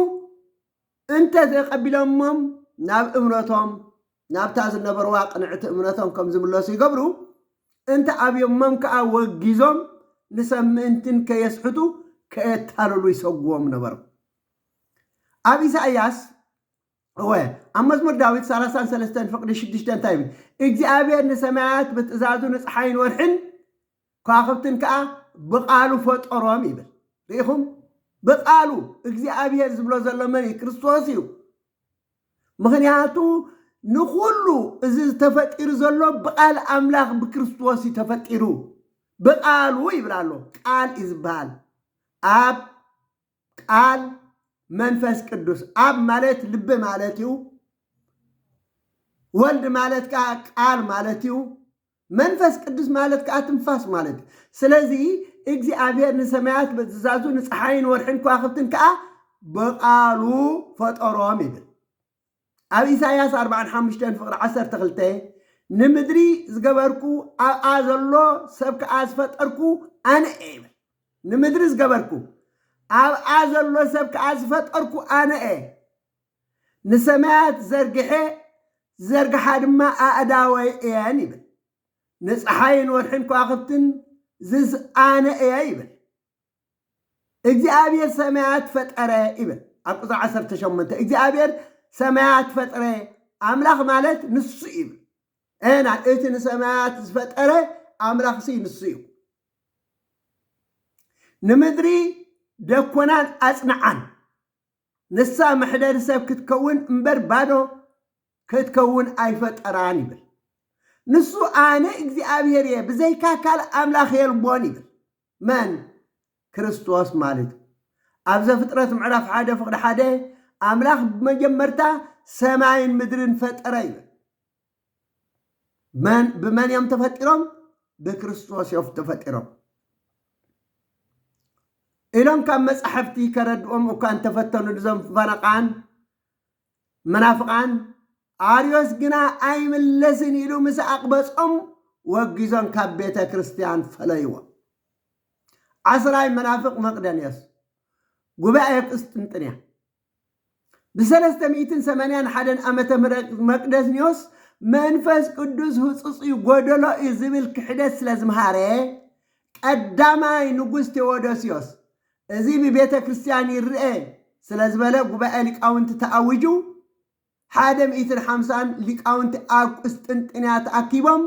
እንተ ዘይቐቢሎሞም ናብ እምነቶም ናብታ ዝነበርዋ ቅንዕቲ እምነቶም ከም ዝምለሱ ይገብሩ እንተ ኣብዮሞም ከኣ ወጊዞም ንሰብ ምእንትን ከየስሕቱ ከየታልሉ ይሰጉዎም ነበሩ ኣብ ኢሳይያስ እወ፣ ኣብ መዝሙር ዳዊት ሰላሳን ሰለስተን ፍቕዲ ሽዱሽተ እንታይ ይብል? እግዚኣብሔር ንሰማያት ብትእዛዙ ንፀሓይን ወርሕን ኳኽብትን ከዓ ብቃሉ ፈጠሮም ይብል። ርኢኹም? ብቃሉ እግዚኣብሔር ዝብሎ ዘሎ መን እዩ? ክርስቶስ እዩ። ምክንያቱ ንኩሉ እዚ ተፈጢሩ ዘሎ ብቃል ኣምላኽ ብክርስቶስ እዩ ተፈጢሩ። ብቃሉ ይብል ኣሎ። ቃል እዩ ዝበሃል። ኣብ ቃል መንፈስ ቅዱስ ኣብ ማለት ልቢ ማለት እዩ። ወልድ ማለት ከዓ ቃል ማለት እዩ። መንፈስ ቅዱስ ማለት ከዓ ትንፋስ ማለት እዩ። ስለዚ እግዚኣብሔር ንሰማያት በትእዛዙ ንፀሓይን ወርሕን ከዋኽብትን ከዓ ብቃሉ ፈጠሮም ይብል። ኣብ ኢሳይያስ ኣርብዓን ሓሙሽተን ፍቕሪ ዓሰርተ ክልተ፣ ንምድሪ ዝገበርኩ ኣብኣ ዘሎ ሰብ ከኣ ዝፈጠርኩ ኣነ እየ ይብል። ንምድሪ ዝገበርኩ ኣብኣ ዘሎ ሰብ ከኣ ዝፈጠርኩ ኣነ እየ። ንሰማያት ዘርግሐ ዝዘርግሓ ድማ ኣእዳወይ እየን ይብል። ንጸሓይን ወርሕን ከዋኽብትን ዝስ ኣነ እየ ይብል። እግዚኣብሔር ሰማያት ፈጠረ ይብል ኣብ ቁፅሪ ዓሰርተ ሸሞንተ እግዚኣብሔር ሰማያት ፈጥረ ኣምላኽ ማለት ንሱ እዩ ይብል እና እቲ ንሰማያት ዝፈጠረ ኣምላኽ ሲ ንሱ እዩ ንምድሪ ደኮናን ኣጽንዓን ንሳ መሕደሪ ሰብ ክትከውን እምበር ባዶ ክትከውን ኣይፈጠራን ይብል ንሱ ኣነ እግዚኣብሔር እየ ብዘይካ ካልእ ኣምላኽ የልቦን ይብል መን? ክርስቶስ ማለት'ዩ። ኣብ ዘፍጥረት ምዕራፍ ሓደ ፍቕዲ ሓደ ኣምላኽ ብመጀመርታ ሰማይን ምድርን ፈጠረ ይብል። መን ብመን እዮም ተፈጢሮም? ብክርስቶስ እዮም ተፈጢሮም። ኢሎም ካብ መጻሕፍቲ ከረድኦም እኳ እንተፈተኑ እዞም ፈረቓን መናፍቓን ኣርዮስ ግና ኣይምለስን ኢሉ ምስ ኣቕበጾም ወጊዞም ካብ ቤተ ክርስቲያን ፈለይዎ። ዓስራይ መናፍቕ መቅደንዮስ ጉባኤ ቁስጥንጥንያ ብሰለስተ ሚእትን ሰማንያን ሓደን ዓመተ ምህረት መቅደንዮስ መንፈስ ቅዱስ ህጹጽ እዩ ጎደሎ እዩ ዝብል ክሕደት ስለ ዝምሃረ ቀዳማይ ንጉስ ቴዎዶስዮስ እዚ ብቤተ ክርስቲያን ይረኤ ስለ ዝበለ ጉባኤ ሊቃውንቲ ተኣዊጁ ሓደ ሚእትን ሓምሳን ሊቃውንቲ ኣብ ቁስጥንጥንያ ተኣኪቦም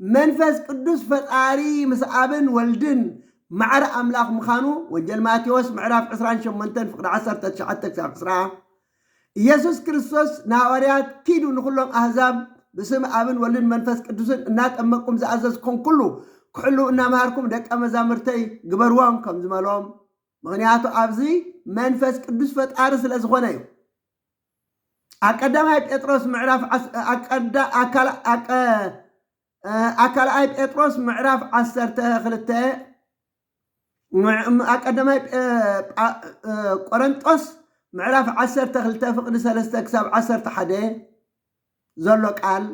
መንፈስ ቅዱስ ፈጣሪ ምስ ኣብን ወልድን ማዕረ ኣምላኽ ምኻኑ ወጀል ማቴዎስ ምዕራፍ ዕስራን ሸሞንተን ፍቅዲ ዓሰርተ ትሽዓተ ክሳብ ዕስራ ኢየሱስ ክርስቶስ ንሃዋርያት ኪዱ ንኹሎም ኣህዛብ ብስም ኣብን ወልድን መንፈስ ቅዱስን እናጠመቅኩም ዝኣዘዝኩም ኩሉ ክሕልው እናመሃርኩም ደቀ መዛሙርተይ ግበርዎም ከም ዝበሎም ምክንያቱ ኣብዚ መንፈስ ቅዱስ ፈጣሪ ስለ ዝኾነ እዩ ኣብ ቀዳማይ ጴጥሮስ ምዕራፍ ዓስ- ኣብ ቀዳ- ኣብ ካል- ኣብ ቀ- a ካልኣይ ጴጥሮስ ምዕራፍ ዓሰርተ ክልተ ምዕ- a ቀዳማይ ጴ- ጳ- እ- ቆረንጦስ ምዕራፍ ዓሰርተ ክልተ ፍቕዲ ሰለስተ ክሳብ ዓሰርተ ሓደ ዘሎ ቃል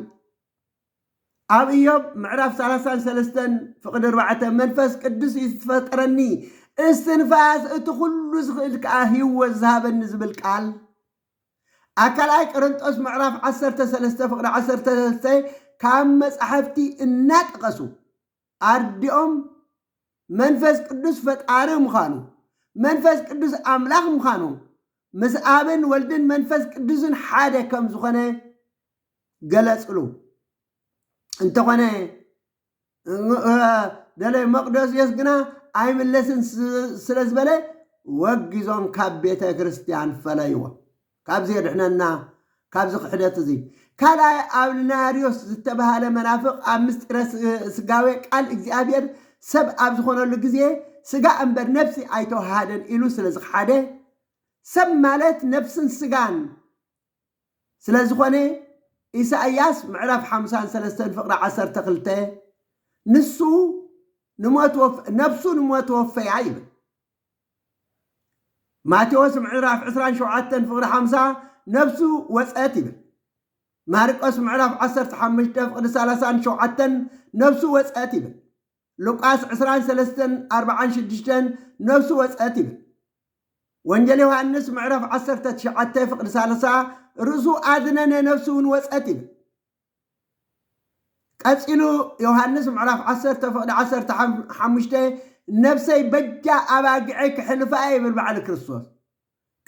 ኣብ እዮብ ምዕራፍ ሰላሳን ሰለስተን ፍቕዲ ኣርባዕተ መንፈስ ቅዱስ እዩ ዝፈጠረኒ እስትንፋስ እቲ ኩሉ ዝኽእል ከዓ ህይወት ዝሃበኒ ዝብል ቃል ኣብ ካልኣይ ቀረንጦስ ምዕራፍ ዓሰርተ ሰለስተ ፍቕዲ ዓሰርተ ሰለስተ ካብ መጻሕፍቲ እናጠቐሱ ኣርዲኦም መንፈስ ቅዱስ ፈጣሪ ምዃኑ መንፈስ ቅዱስ ኣምላኽ ምዃኑ ምስ ኣብን ወልድን መንፈስ ቅዱስን ሓደ ከም ዝኾነ ገለጽሉ እንተኾነ ደላይ መቅዶስዮስ ግና ኣይምለስን ስለ ዝበለ ወጊዞም ካብ ቤተ ክርስቲያን ፈለይዎ። ካብዚ የድሕነና ካብዚ ክሕደት እዚ ካልኣይ ኣብልናርዮስ ዝተባሃለ መናፍቕ ኣብ ምስጢረ ስጋዌ ቃል እግዚኣብሔር ሰብ ኣብ ዝኾነሉ ግዜ ስጋ እምበር ነፍሲ ኣይተዋሃደን ኢሉ ስለ ዝሓደ ሰብ ማለት ነፍስን ስጋን ስለዝኾነ ኢሳይያስ ምዕራፍ ሓምሳን ሰለስተን ፍቅሪ ዓሰርተ ክልተ ንሱ ንሞት ወፍ ነብሱ ንሞት ወፈያ ይብል። ማቴዎስ ምዕራፍ ዕስራን ሸውዓተን ፍቅሪ ሓምሳ ነብሱ ወጸት ይብል። ማርቆስ ምዕራፍ ዓሰርተ ሓሙሽተ ፍቅሪ ሰላሳን ሸውዓተን ነብሱ ወጸት ይብል። ሉቃስ ዕስራን ሰለስተን ኣርብዓን ሽዱሽተን ነፍሱ ወጸት ይብል። ወንጌል ዮሃንስ ምዕራፍ ዓሰርተ ትሽዓተ ፍቕዲ ሳልሳ ርእሱ ኣድነነ ነፍሱ እውን ወጸት ይብል። ቀጺሉ ዮሃንስ ምዕራፍ ዓሰርተ ፍቕዲ ዓሰርተ ሓም- ሓሙሽተ ነፍሰይ በጃ ኣባግዐይ ክሕልፋ እየ ይብል ባዕሊ ክርስቶስ።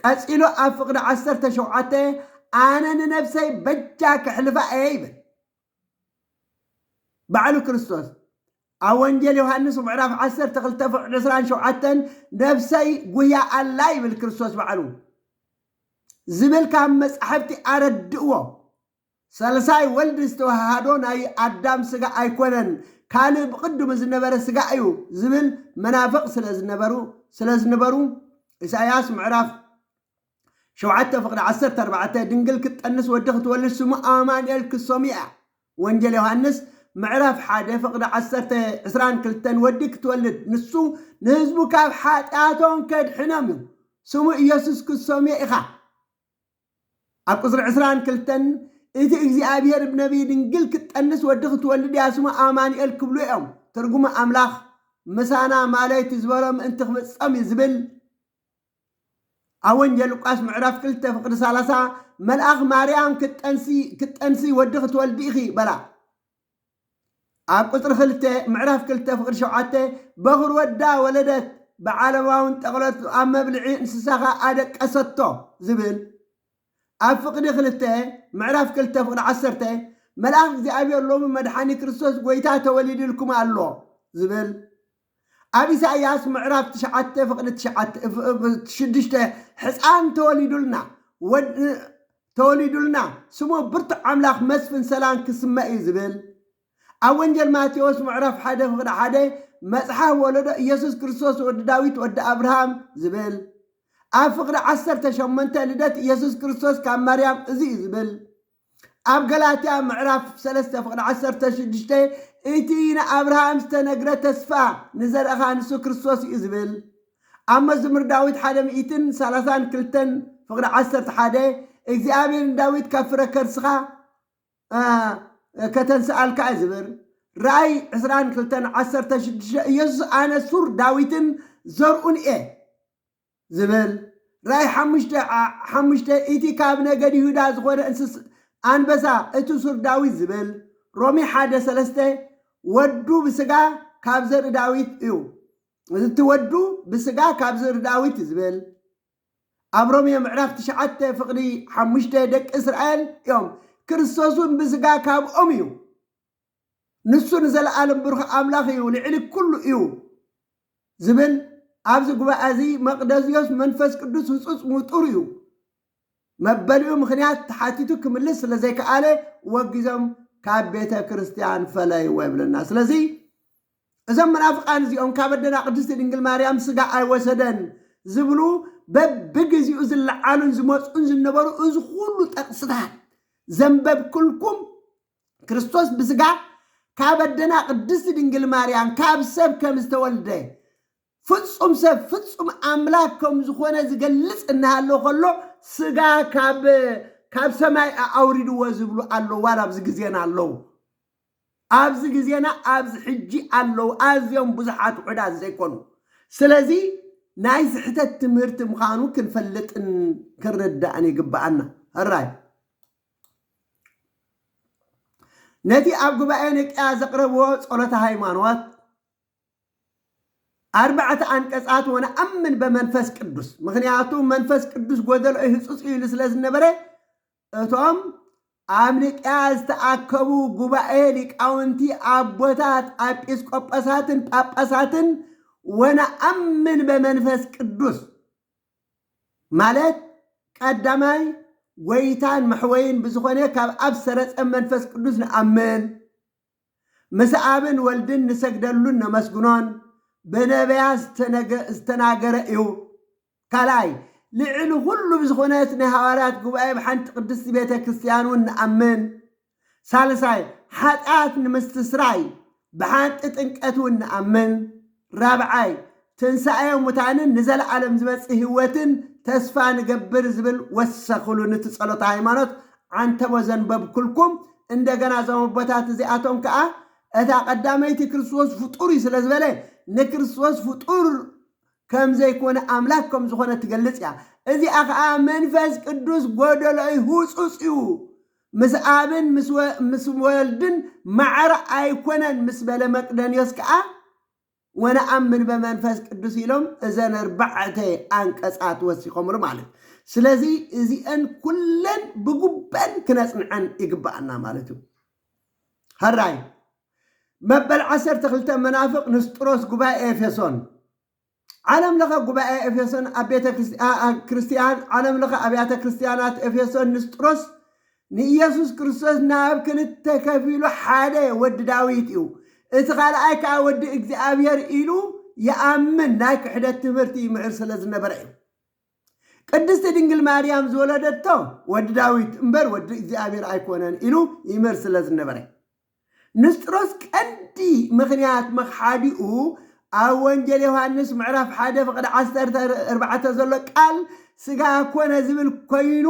ቀጺሉ ኣብ ፍቕዲ ዓሰርተ ሸውዓተ ኣነ ንነፍሰይ በጃ ክሕልፋ እየ ይብል። ባዕሉ ክርስቶስ ኣብ ወንጌል ዮሃንስ ምዕራፍ ዓሰርተ ክልተ ፍቕ ዕስራን ሸውዓተን ነፍሰይ ጉያ ኣላ ይብል ክርስቶስ ባዕሉ ዝብል ካብ መጻሕፍቲ ኣረድእዎ ሰልሳይ ወልድ ዝተዋሃሃዶ ናይ ኣዳም ስጋ ኣይኮነን ካልእ ብቕድሙ ዝነበረ ስጋ እዩ ዝብል መናፍቕ ስለ ዝነበሩ ስለ ዝነበሩ ኢሳይያስ ምዕራፍ ሸውዓተ ፍቅዲ ዓሰርተ ኣርባዕተ ድንግል ክትጠንስ ወዲ ክትወልድ ስሙ ኣማንኤል ክሶምያ ወንጀል ዮሃንስ ምዕራፍ ሓደ ፍቅዲ ዓሰርተ ዕስራን ክልተን ወዲ ክትወልድ ንሱ ንህዝቡ ካብ ሓጢኣቶም ከድሕኖም እዩ ስሙ ኢየሱስ ክሶምየ ኢኻ ኣብ ቁፅሪ ዕስራን ክልተን እቲ እግዚኣብሔር ብነቢይ ድንግል ክትጠንስ ወዲ ክትወልድ እያ ስሙ ኣማንኤል ክብሉ እዮም ትርጉሙ ኣምላኽ ምሳና ማለይቲ ዝበሎ ምእንቲ ክፍጸም እዩ ዝብል ኣብ ወንጌል ሉቃስ ምዕራፍ ክልተ ፍቅዲ ሰላሳ መልኣኽ ማርያም ክትጠንሲ ክትጠንሲ ወዲ ክትወልዲ ኢኺ በላ። ኣብ ቁፅሪ ክልተ ምዕራፍ ክልተ ፍቅዲ ሸውዓተ በኹር ወዳ ወለደት ብዓለማውን ጠቕለቱ ኣብ መብልዒ እንስሳኻ ኣደቀሰቶ ዝብል ኣብ ፍቅዲ ክልተ ምዕራፍ ክልተ ፍቅዲ ዓሰርተ መልኣኽ እግዚኣብሔር ሎሚ መድሓኒ ክርስቶስ ጎይታ ተወሊድልኩም ኣሎ ዝብል ኣብ ኢሳይያስ ምዕራፍ ትሽዓተ ፍቕዲ ትሽዓተ ሽዱሽተ ሕጻን ተወሊዱልና ወድ ተወሊዱልና ስሙ ብርቱዕ ኣምላኽ መስፍን ሰላም ክስመ እዩ ዝብል ኣብ ወንጀል ማቴዎስ ምዕራፍ ሓደ ፍቕዲ ሓደ መጽሓፍ ወለዶ ኢየሱስ ክርስቶስ ወዲ ዳዊት ወዲ ኣብርሃም ዝብል ኣብ ፍቕዲ ዓሰርተ ሸሞንተ ልደት ኢየሱስ ክርስቶስ ካብ ማርያም እዚ እዩ ዝብል ኣብ ገላትያ ምዕራፍ ሰለስተ ፍቕዲ ዓሰርተ ሽዱሽተ እቲ ንኣብርሃም ዝተነግረ ተስፋ ንዘርእኻ ንሱ ክርስቶስ እዩ ዝብል ኣብ መዝሙር ዳዊት ሓደ ሚእትን ሰላሳን ክልተን ፍቕዲ ዓሰርተ ሓደ እግዚኣብሔር ንዳዊት ካብ ፍረ ከርስኻ ከተንስኣልካ እዩ ዝብር ራእይ ዕስራን ክልተን ዓሰርተ ሽዱሽተ ኢየሱስ ኣነ ሱር ዳዊትን ዘርኡን እየ ዝብል ራእይ ሓሙሽተ ዓ ሓሙሽተ እቲ ካብ ነገድ ይሁዳ ዝኾነ እንስስ ኣንበሳ እቲ ሱር ዳዊት ዝብል ሮሜ ሓደ ሰለስተ ወዱ ብስጋ ካብ ዘርኢ ዳዊት እዩ እቲ ወዱ ብስጋ ካብ ዘርኢ ዳዊት ዝብል ኣብ ሮሜ ምዕራፍ ትሽዓተ ፍቕዲ ሓሙሽተ ደቂ እስራኤል እዮም ክርስቶስ እውን ብስጋ ካብኦም እዩ ንሱ ንዘለኣለም ብሩኽ ኣምላኽ እዩ፣ ልዕሊ ኩሉ እዩ ዝብል ኣብዚ ጉባኤ እዚ መቅደዝዮስ መንፈስ ቅዱስ ህጹጽ ምጡር እዩ መበሊኡ ምክንያት ተሓቲቱ ክምልስ ስለ ዘይከኣለ ወጊዞም ካብ ቤተ ክርስቲያን ፈለይዎ ይብለና ስለዚ እዞም መናፍቃን እዚኦም ካብ ኣደና ቅድስቲ ድንግል ማርያም ስጋ ኣይወሰደን ዝብሉ በብግዜኡ ዝለዓሉን ዝመፅኡን ዝነበሩ እዚ ኩሉ ጠቅስታት ዘንበብኩልኩም ክርስቶስ ብስጋ ካብ ኣደና ቅድስቲ ድንግል ማርያም ካብ ሰብ ከም ዝተወልደ ፍጹም ሰብ ፍጹም ኣምላክ ከም ዝኾነ ዝገልጽ እናሃሎ ከሎ ስጋ ካብ ካብ ሰማይ ኣውሪድዎ ዝብሉ ኣለዉ ዋላ ኣብዚ ግዜና ኣለዉ ኣብዚ ግዜና ኣብዚ ሕጂ ኣለዉ ኣዝዮም ብዙሓት ውሕዳት ዘይኮኑ ስለዚ ናይ ስሕተት ትምህርቲ ምዃኑ ክንፈልጥን ክንርዳእን ይግባኣና ራይ ነቲ ኣብ ጉባኤ ንቅያ ዘቕረብዎ ጸሎተ ሃይማኖት ኣርባዕተ ኣንቀጻት ወነኣምን በመንፈስ ቅዱስ ምክንያቱ መንፈስ ቅዱስ ጎደሎ እዩ ህጹጽ እዩ ኢሉ ስለ ዝነበረ እቶም ኣብ ንቅያ ዝተኣከቡ ጉባኤ ሊቃውንቲ ኣቦታት ኣጲስቆጶሳትን ጳጳሳትን ወነኣምን በመንፈስ ቅዱስ ማለት ቀዳማይ ጎይታን መሕወይን ብዝኾነ ካብ ኣብ ዝሰረጸ መንፈስ ቅዱስ ንኣምን፣ ምስ ኣብን ወልድን ንሰግደሉን ነመስግኖን፣ ብነብያት ዝተናገረ እዩ። ካልኣይ ልዕሊ ኹሉ ብዝኾነት ናይ ሃዋርያት ጉባኤ ብሓንቲ ቅድስቲ ቤተ ክርስቲያንውን ንኣምን፣ ሳልሳይ ሓጢኣት ንምስትስራይ ብሓንቲ ጥንቀት እውን ንኣምን። ራብዓይ ትንሳኤ ሙታንን ንዘለዓለም ዝመጽእ ህይወትን ተስፋ ንገብር ዝብል ወሰኽሉ ንቲ ጸሎተ ሃይማኖት ዓንተቦ ዘንበብኩልኩም እንደገና እዞም ኣቦታት እዚኣቶም ከኣ እታ ቀዳመይቲ ክርስቶስ ፍጡር እዩ ስለ ዝበለ ንክርስቶስ ፍጡር ከም ዘይኮነ ኣምላክ ከም ዝኾነ ትገልጽ እያ እዚኣ ከኣ መንፈስ ቅዱስ ጎደሎ እዩ ህጹጽ እዩ ምስ ኣብን ምስ ወልድን ማዕረ ኣይኮነን ምስ በለ መቅደንዮስ ከኣ ወነኣምን በመንፈስ ቅዱስ ኢሎም እዘን ኣርባዕተ ኣንቀጻት ወሲኾምሉ ማለት እዩ። ስለዚ እዚኤን ኩለን ብጉበን ክነጽንዐን ይግብኣና ማለት እዩ። ሀራይ መበል ዓሰርተ ክልተ መናፍቅ ንስጥሮስ ጉባኤ ኤፌሶን ዓለም ለኸ ጉባኤ ኤፌሶን ኣብ ቤተ ክርስቲያን ዓለም ለኸ ኣብያተ ክርስቲያናት ኤፌሶን ንስጥሮስ ንኢየሱስ ክርስቶስ ናብ ክልተ ከፊሉ ሓደ ወዲ ዳዊት እዩ እቲ ካልኣይ ከዓ ወዲ እግዚኣብሔር ኢሉ ይኣምን ናይ ክሕደት ትምህርቲ ይምዕር ስለ ዝነበረ እዩ ቅድስቲ ድንግል ማርያም ዝወለደቶ ወዲ ዳዊት እምበር ወዲ እግዚኣብሔር ኣይኮነን ኢሉ ይምህር ስለ ዝነበረ ንስጥሮስ ቀንዲ ምኽንያት መኽሓዲኡ ኣብ ወንጌል ዮሃንስ ምዕራፍ ሓደ ፍቕዲ ዓሰርተ ኣርባዕተ ዘሎ ቃል ስጋ ኮነ ዝብል ኮይኑ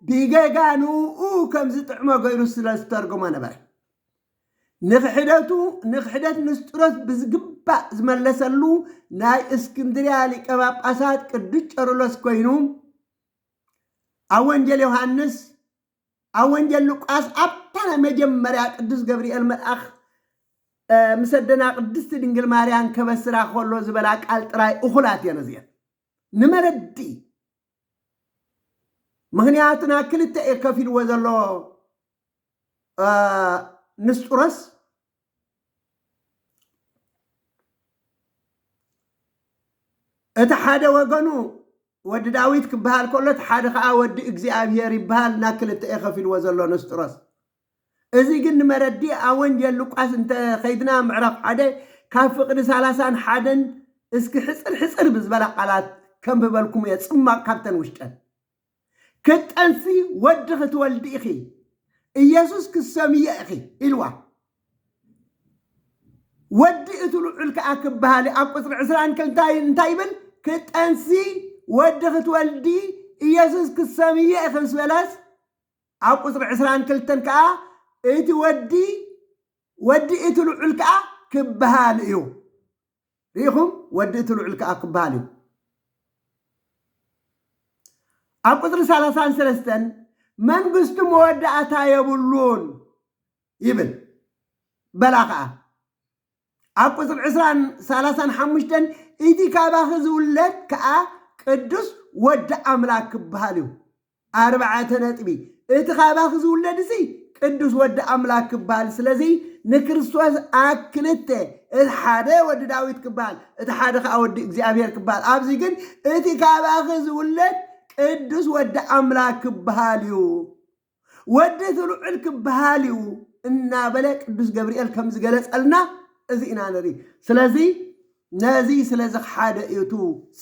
ብገጋ ንኡ ከም ዝጥዕሞ ገይሩ ስለ ዝተርጎሞ ነበረ። ንክሕደቱ ንክሕደት ንስጥሮስ ብዝግባእ ዝመለሰሉ ናይ እስክንድርያ ሊቀ ጳጳሳት ቅዱስ ቄርሎስ ኮይኑ ኣብ ወንጌል ዮሃንስ ኣብ ወንጌል ሉቃስ ኣብታ ናይ መጀመርያ ቅዱስ ገብርኤል መልኣኽ ምስ ኣደና ቅድስቲ ድንግል ማርያን ከበስራ ከሎ ዝበላ ቃል ጥራይ እኹላት እየን እዚአን ንመረዲ ምክንያቱና ክልተ እየ ከፊልዎ ዘሎ ንስጡሮስ እቲ ሓደ ወገኑ ወዲ ዳዊት ክበሃል ከሎ እቲ ሓደ ከዓ ወዲ እግዚኣብሔር ይበሃል እና ክልተ እዩ ከፊልዎ ዘሎ ንስጥሮስ እዚ ግን ንመረዲ ኣብ ወንጌል ሉቃስ እንተኸይድና ምዕራፍ ሓደ ካብ ፍቕዲ ሰላሳን ሓደን እስኪ ሕፅር ሕፅር ብዝበላ ቃላት ከንብበልኩም እየ ፅማቕ ካብተን ውሽጠን ክትጠንሲ ወዲ ክትወልዲ ኢኺ፣ ኢየሱስ ክትሰምዮ ኢኺ ኢልዋ። ወዲ እቲ ልዑል ከኣ ክበሃል እዩ። ኣብ ቁጽሪ ዕስራን ክልታን እንታይ ይብል? ክትጠንሲ ወዲ ክትወልዲ ኢየሱስ ክትሰምዮ ኢኺ ምስ በለስ ኣብ ቁጽሪ ዕስራን ክልተን ከኣ እቲ ወዲ ወዲ እቲ ልዑል ከኣ ክበሃል እዩ። ርኢኹም ወዲ እቲ ልዑል ከኣ ክበሃል እዩ። ኣብ ቁጽሪ ሰላሳን ሰለስተን መንግስቱ መወዳእታ የብሉን ይብል በላ ከኣ ኣብ ቁጽሪ ዕስራን ሰላሳን ሓሙሽተን እቲ ካባኺ ዝውለድ ከኣ ቅዱስ ወዲ ኣምላክ ክበሃል እዩ ኣርባዕተ ነጥቢ፣ እቲ ካባኺ ዝውለድሲ ቅዱስ ወዲ ኣምላክ ክበሃል ስለዚ ንክርስቶስ ኣክ ክልተ እቲ ሓደ ወዲ ዳዊት ክበሃል እቲ ሓደ ከዓ ወዲ እግዚኣብሔር ክበሃል ኣብዚ ግን እቲ ካባኺ ዝውለድ ቅዱስ ወዲ ኣምላክ ክበሃል እዩ ወዲ እቲ ልዑል ክበሃል እዩ እናበለ ቅዱስ ገብርኤል ከም ዝገለጸልና እዚ ኢና ንርኢ ስለዚ ነዚ ስለዚ ሓደ እዩ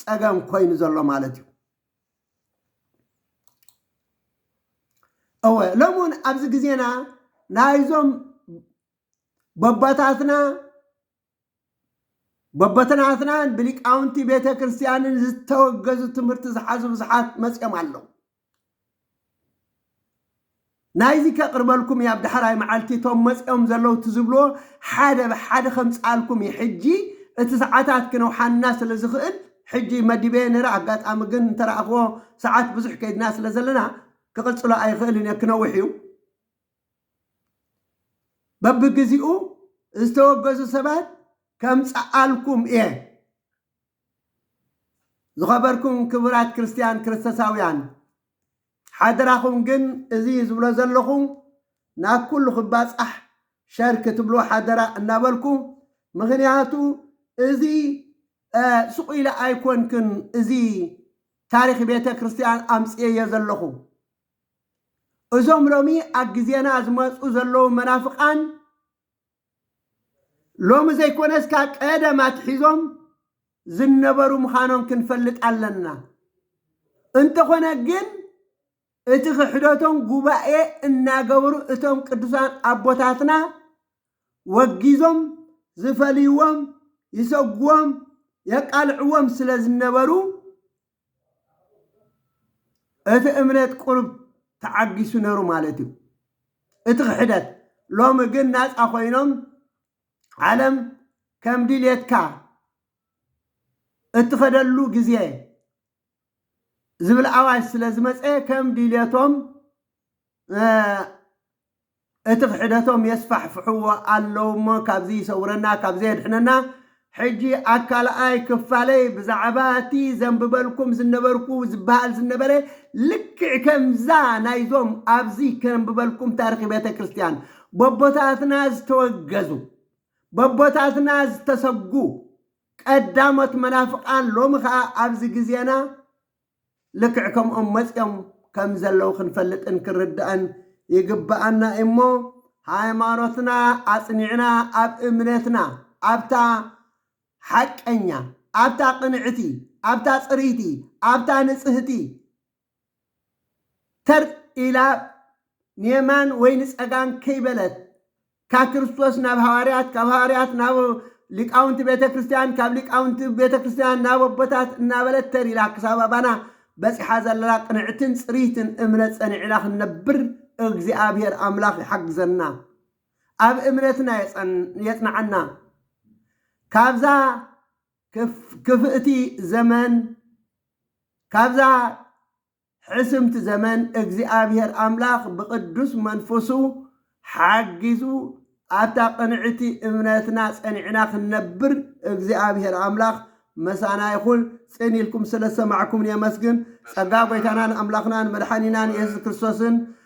ጸገም ኮይኑ ዘሎ ማለት እዩ እወ ሎሚ እውን ኣብዚ ግዜና ናይዞም በቦታትና በቦትናትናን ብሊቃውንቲ ቤተ ክርስቲያንን ዝተወገዙ ትምህርቲ ዝሓዙ ብዙሓት መፅኦም ኣለዉ። ናይዚ ከቅርበልኩም እየ ኣብ ዳሕራይ ማዓልቲ እቶም መፅኦም ዘለው እቲ ዝብልዎ ሓደ ብሓደ ከምፅኣልኩም እየ ሕጂ እቲ ሳዓታት ክነውሓና ስለ ዝክእል ሕጂ መዲበየ ነረ ኣጋጣሚ ግን እንተራኣክዎ ሳዓት ብዙሕ ከይድና ስለ ዘለና ክቅፅሎ ኣይክእልን እየ ክነውሕ እዩ በብግዚኡ ዝተወገዙ ሰባት ከምፅኣልኩም እየ። ዝኸበርኩም ክቡራት ክርስትያን ክርስቶሳውያን ሓደራኹም ግን እዚ ዝብሎ ዘለኹ ናብ ኩሉ ክባጻሕ ሸር ክትብሉ ሓደራ እናበልኩ ምኽንያቱ እዚ ስቑ ኢለ ኣይኮንክን እዚ ታሪክ ቤተ ክርስትያን ኣምጽኤዮ ዘለኹ እዞም ሎሚ ኣብ ግዜና ዝመጹ ዘለዉ መናፍቃን ሎሚ ዘይኮነስ ካብ ቀደም ኣትሒዞም ዝነበሩ ምዃኖም ክንፈልጥ ኣለና። እንተኾነ ግን እቲ ክሕደቶም ጉባኤ እናገበሩ እቶም ቅዱሳን ኣቦታትና ወጊዞም ዝፈልይዎም ይሰጉዎም የቃልዕዎም ስለ ዝነበሩ እቲ እምነት ቁሩብ ተዓጊሱ ነሩ ማለት እዩ እቲ ክሕደት ሎሚ ግን ናጻ ኮይኖም ዓለም ከም ድልየትካ እትኸደሉ ግዜ ዝብል ኣዋጅ ስለ ዝመጸ ከም ድልየቶም እቲ ክሕደቶም የስፋሕፍሕዎ ኣለዉሞ ካብዚ ይሰውረና ካብዚ የድሕነና ሕጂ ኣብ ካልኣይ ክፋለይ ብዛዕባ እቲ ዘንብበልኩም ዝነበርኩ ዝበሃል ዝነበረ ልክዕ ከምዛ ናይዞም ኣብዚ ከንብበልኩም ታርኺ ቤተክርስትያን በቦታትና ዝተወገዙ በቦታትና ዝተሰጉ ቀዳሞት መናፍቃን ሎሚ ከኣ ኣብዚ ግዜና ልክዕ ከምኦም መጺኦም ከም ዘለዉ ክንፈልጥን ክንርዳእን ይግብኣና እዩ'ሞ ሃይማኖትና ኣጽኒዕና ኣብ እምነትና ኣብታ ሓቀኛ ኣብታ ቅንዕቲ ኣብታ ጽርይቲ ኣብታ ንጽህቲ ተር ኢላ ንየማን ወይ ንጸጋም ከይበለት ካብ ክርስቶስ ናብ ሃዋርያት፣ ካብ ሃዋርያት ናብ ሊቃውንቲ ቤተ ክርስቲያን፣ ካብ ሊቃውንቲ ቤተ ክርስቲያን ናብ ኣቦታት እናበለት ተር ኢላ ክሳብ ኣባና በጺሓ ዘላ ቅንዕትን ጽርይትን እምነት ጸኒዕና ክንነብር እግዚኣብሔር ኣምላኽ ይሓግዘና። ኣብ እምነትና የጽንዓና። ካብዛ ክፍእቲ ዘመን ካብዛ ሕስምቲ ዘመን እግዚኣብሔር ኣምላኽ ብቅዱስ መንፈሱ ሓጊዙ ኣብታ ቅንዕቲ እምነትና ጸኒዕና ክንነብር እግዚኣብሔር ኣምላኽ መሳና ይኹን ጽን ኢልኩም ስለ ዝሰማዕኩምኒ የመስግን ጸጋ ጎይታናን ኣምላኽናን መድሓኒናን የሱስ ክርስቶስን